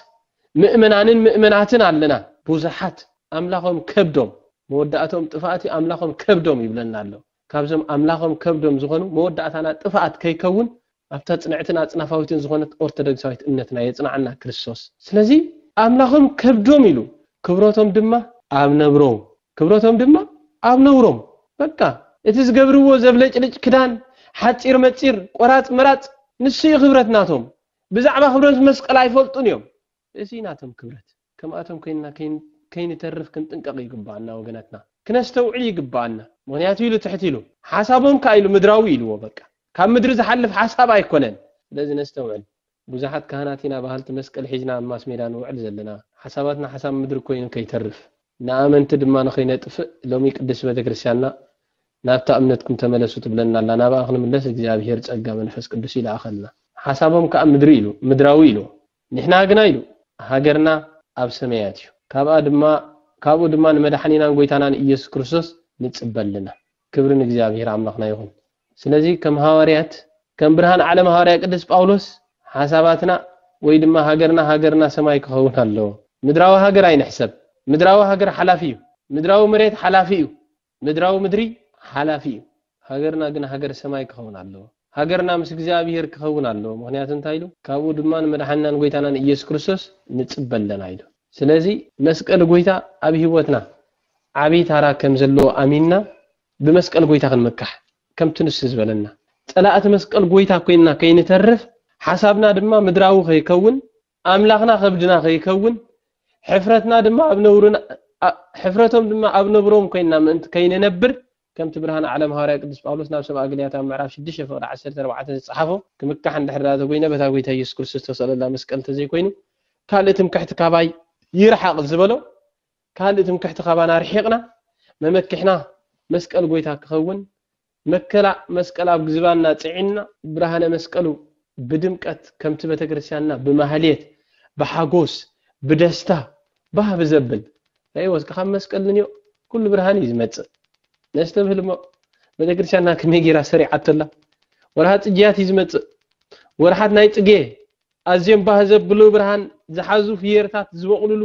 ምእመናንን ምእመናትን ኣለና። ብዙሓት ኣምላኾም ከብዶም። መወዳእትኦም ጥፍኣት እዩ፣ ኣምላኾም ከብዶም ይብለና ኣሎ። ካብዞም ኣምላኾም ከብዶም ዝኾኑ መወዳእታና ጥፋኣት ከይከውን ኣብታ ጽንዕትን ኣጽናፋዊትን ዝኾነት ኦርተደግሳዊት እምነትና የጽናዓና ክርስቶስ ስለዚ ኣምላኾም ከብዶም ኢሉ ክብሮቶም ድማ ኣብ ነብሮም ክብሮቶም ድማ ኣብ ነውሮም በቃ እቲ ዝገብርዎ ዘብለጭልጭ ክዳን ሓጺር መጺር ቆራጽ መራጽ ንሱ እዩ ክብረት ናቶም ብዛዕባ ክብረት መስቀል ኣይፈልጡን እዮም እዚ እዩ ናቶም ክብረት። ከምኣቶም ኮይንና ከይንተርፍ ክንጥንቀቕ ይግበኣና ወገናትና ክነስተውዕል ይግበኣና ምኽንያቱ ኢሉ ትሕት ኢሉ ሓሳቦም ከኣ ኢሉ ምድራዊ ኢልዎ በቃ ካብ ምድሪ ዝሓልፍ ሓሳብ ኣይኮነን ስለዚ ነስተውዕል ብዙሓት ካህናት ኢና በሃልቲ መስቀል ሒዝና ኣብ ማስሜዳ ንውዕል ዘለና ሓሳባትና ሓሳብ ምድሪ ኮይኑ ከይተርፍ ንኣመንቲ ድማ ንኸይነጥፍእ ሎሚ ቅድስቲ ቤተክርስትያንና ናብታ እምነትኩም ተመለሱ ትብለና ኣላ ናብኣ ክንምለስ እግዚኣብሄር ጸጋ መንፈስ ቅዱስ ይልኣኸልና ሓሳቦም ከኣ ምድሪ ኢሉ ምድራዊ ኢልዎ ንሕና ግና ኢሉ፣ ሃገርና ኣብ ሰመያት እዩ፣ ካብኣ ድማ ካብኡ ድማ ንመድሓኒናን ጎይታናን ኢየሱስ ክርስቶስ ንጽበ ኣለና። ክብሪ ንእግዚኣብሔር ኣምላኽና ይኹን። ስለዚ ከም ሃዋርያት ከም ብርሃን ዓለም ሃዋርያ ቅድስ ጳውሎስ ሓሳባትና ወይ ድማ ሃገርና ሃገርና ሰማይ ክኸውን ኣለዎ። ምድራዊ ሃገር ኣይንሕሰብ። ምድራዊ ሃገር ሓላፊ እዩ። ምድራዊ መሬት ሓላፊ እዩ። ምድራዊ ምድሪ ሓላፊ እዩ ሃገርና ግን ሃገር ሰማይ ክኸውን ኣለዎ ሃገርና ምስ እግዚኣብሄር ክኸውን ኣለዎ ምኽንያቱ እንታይ ኢሉ ካብኡ ድማ ንመድሓኒናን ጎይታናን ኢየሱስ ክርስቶስ ንጽበ ኣለና ኢሉ ስለዚ መስቀል ጎይታ ኣብ ሂወትና ዓቢ ታራ ከም ዘለዎ ኣሚንና ብመስቀል ጎይታ ክንምካሕ ከምቲ ንሱ ዝበለና ጸላእቲ መስቀል ጎይታ ኮይንና ከይንተርፍ ሓሳብና ድማ ምድራዊ ከይከውን ኣምላኽና ከብድና ከይከውን ሕፍረትና ድማ ኣብ ነውርና ሕፍረቶም ድማ ኣብ ነብሮም ኮይንና ምእንቲ ከይንነብር ከምቲ ብርሃን ዓለም ሃዋርያ ቅዱስ ጳውሎስ ናብ ሰብኣ ግልያት ኣብ ምዕራፍ ሽዱሽተ ፍቕዲ ዓሰርተ ኣርባዕተ ዝጸሓፎ ክምካሕ እንድሕር ደኣ ተጎይነ በታ ጎይታ ኢየሱስ ክርስቶስ ዝተሰቕለላ መስቀል እንተዘይኮይኑ ካልእ ትምክሕቲ ካባይ ይርሓቕ ዝበሎ ካልእ ትምክሕቲ ካባና ርሒቕና መመክሕና መስቀል ጎይታ ክኸውን መከላ መስቀል ኣብ ዝባንና ጽዒንና ብርሃነ መስቀሉ ብድምቀት ከምቲ ቤተክርስትያንና ብማህሌት ብሓጎስ ብደስታ ባህ ብዘብል ናይ ወስከ ካብ መስቀል ንንዮ ኩሉ ብርሃን እዩ ዝመጽእ ነስተብህል እሞ ቤተክርስትያንና ከመይ ጌራ ሰሪዓቶላ ወርሃ ጽጌያት እዩ ዝመጽእ ወርሓት ናይ ጽጌ ኣዝዮም ባህ ዘብሉ ብርሃን ዝሓዙ ፍየርታት ዝበቕሉሉ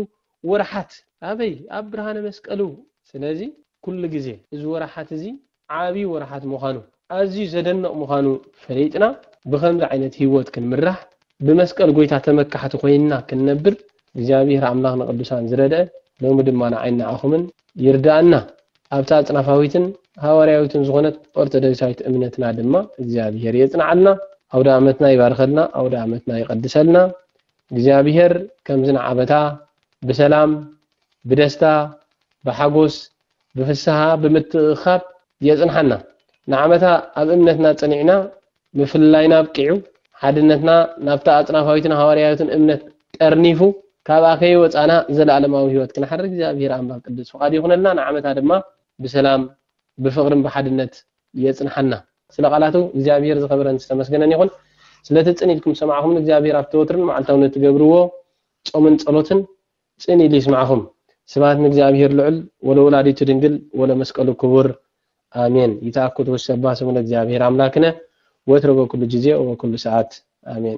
ወርሓት ኣበይ ኣብ ብርሃነ መስቀል እው ስለዚ ኩሉ ግዜ እዚ ወርሓት እዚ ዓቢ ወርሓት ምዃኑ ኣዝዩ ዘደንቕ ምዃኑ ፈሊጥና ብኸምዚ ዓይነት ሂወት ክንምራሕ ብመስቀል ጎይታ ተመካሕቲ ኮይንና ክንነብር እግዚኣብሄር ኣምላኽ ንቅዱሳን ዝረድአ ሎሚ ድማ ንዓይን ንዓኹምን ይርድኣና ኣብታ ኣጽናፋዊትን ሃዋርያዊትን ዝኾነት ኦርቶዶክሳዊት እምነትና ድማ እግዚኣብሄር የጽንዓልና ኣውደኣመትና ይባርኸልና ኣውደኣመትና ይቀድሰልና እግዚኣብሔር ከምዚ ንዓበታ ብሰላም ብደስታ ብሓጎስ ብፍስሃ ብምትእኽኻብ የጽንሓና ንዓመታ ኣብ እምነትና ጸኒዕና ምፍልላይና ኣብቂዑ ሓድነትና ናብታ ኣጽናፋዊትን ሃዋርያዊትን እምነት ጠርኒፉ ካብኣ ከይወጻና ዘለኣለማዊ ሕይወት ክንሓድር እግዚኣብሔር ኣምላኽ ቅዱስ ፍቃዱ ይኹነልና ንዓመታ ድማ ብሰላም ብፍቅርን ብሓድነት የጽንሓና ስለ ቃላቱ እግዚኣብሄር ዝኸበረን ዝተመስገነን ይኹን ስለቲ ጽን ኢልኩም ዝሰማዕኹምን እግዚኣብሄር ኣብቲ ወትርን መዓልታውን እትገብርዎ ጾምን ጸሎትን ጽን ኢሉ ይስማዕኹም ስብሃት ንእግዚኣብሄር ልዑል ወለወላዲቱ ድንግል ወለመስቀሉ ክቡር ኣሜን ይትኣኩት ወሰባህ ስሙ ለእግዚኣብሄር ኣምላክነ ወትረ በኩሉ ጊዜ ወበኩሉ ሰዓት ኣሜን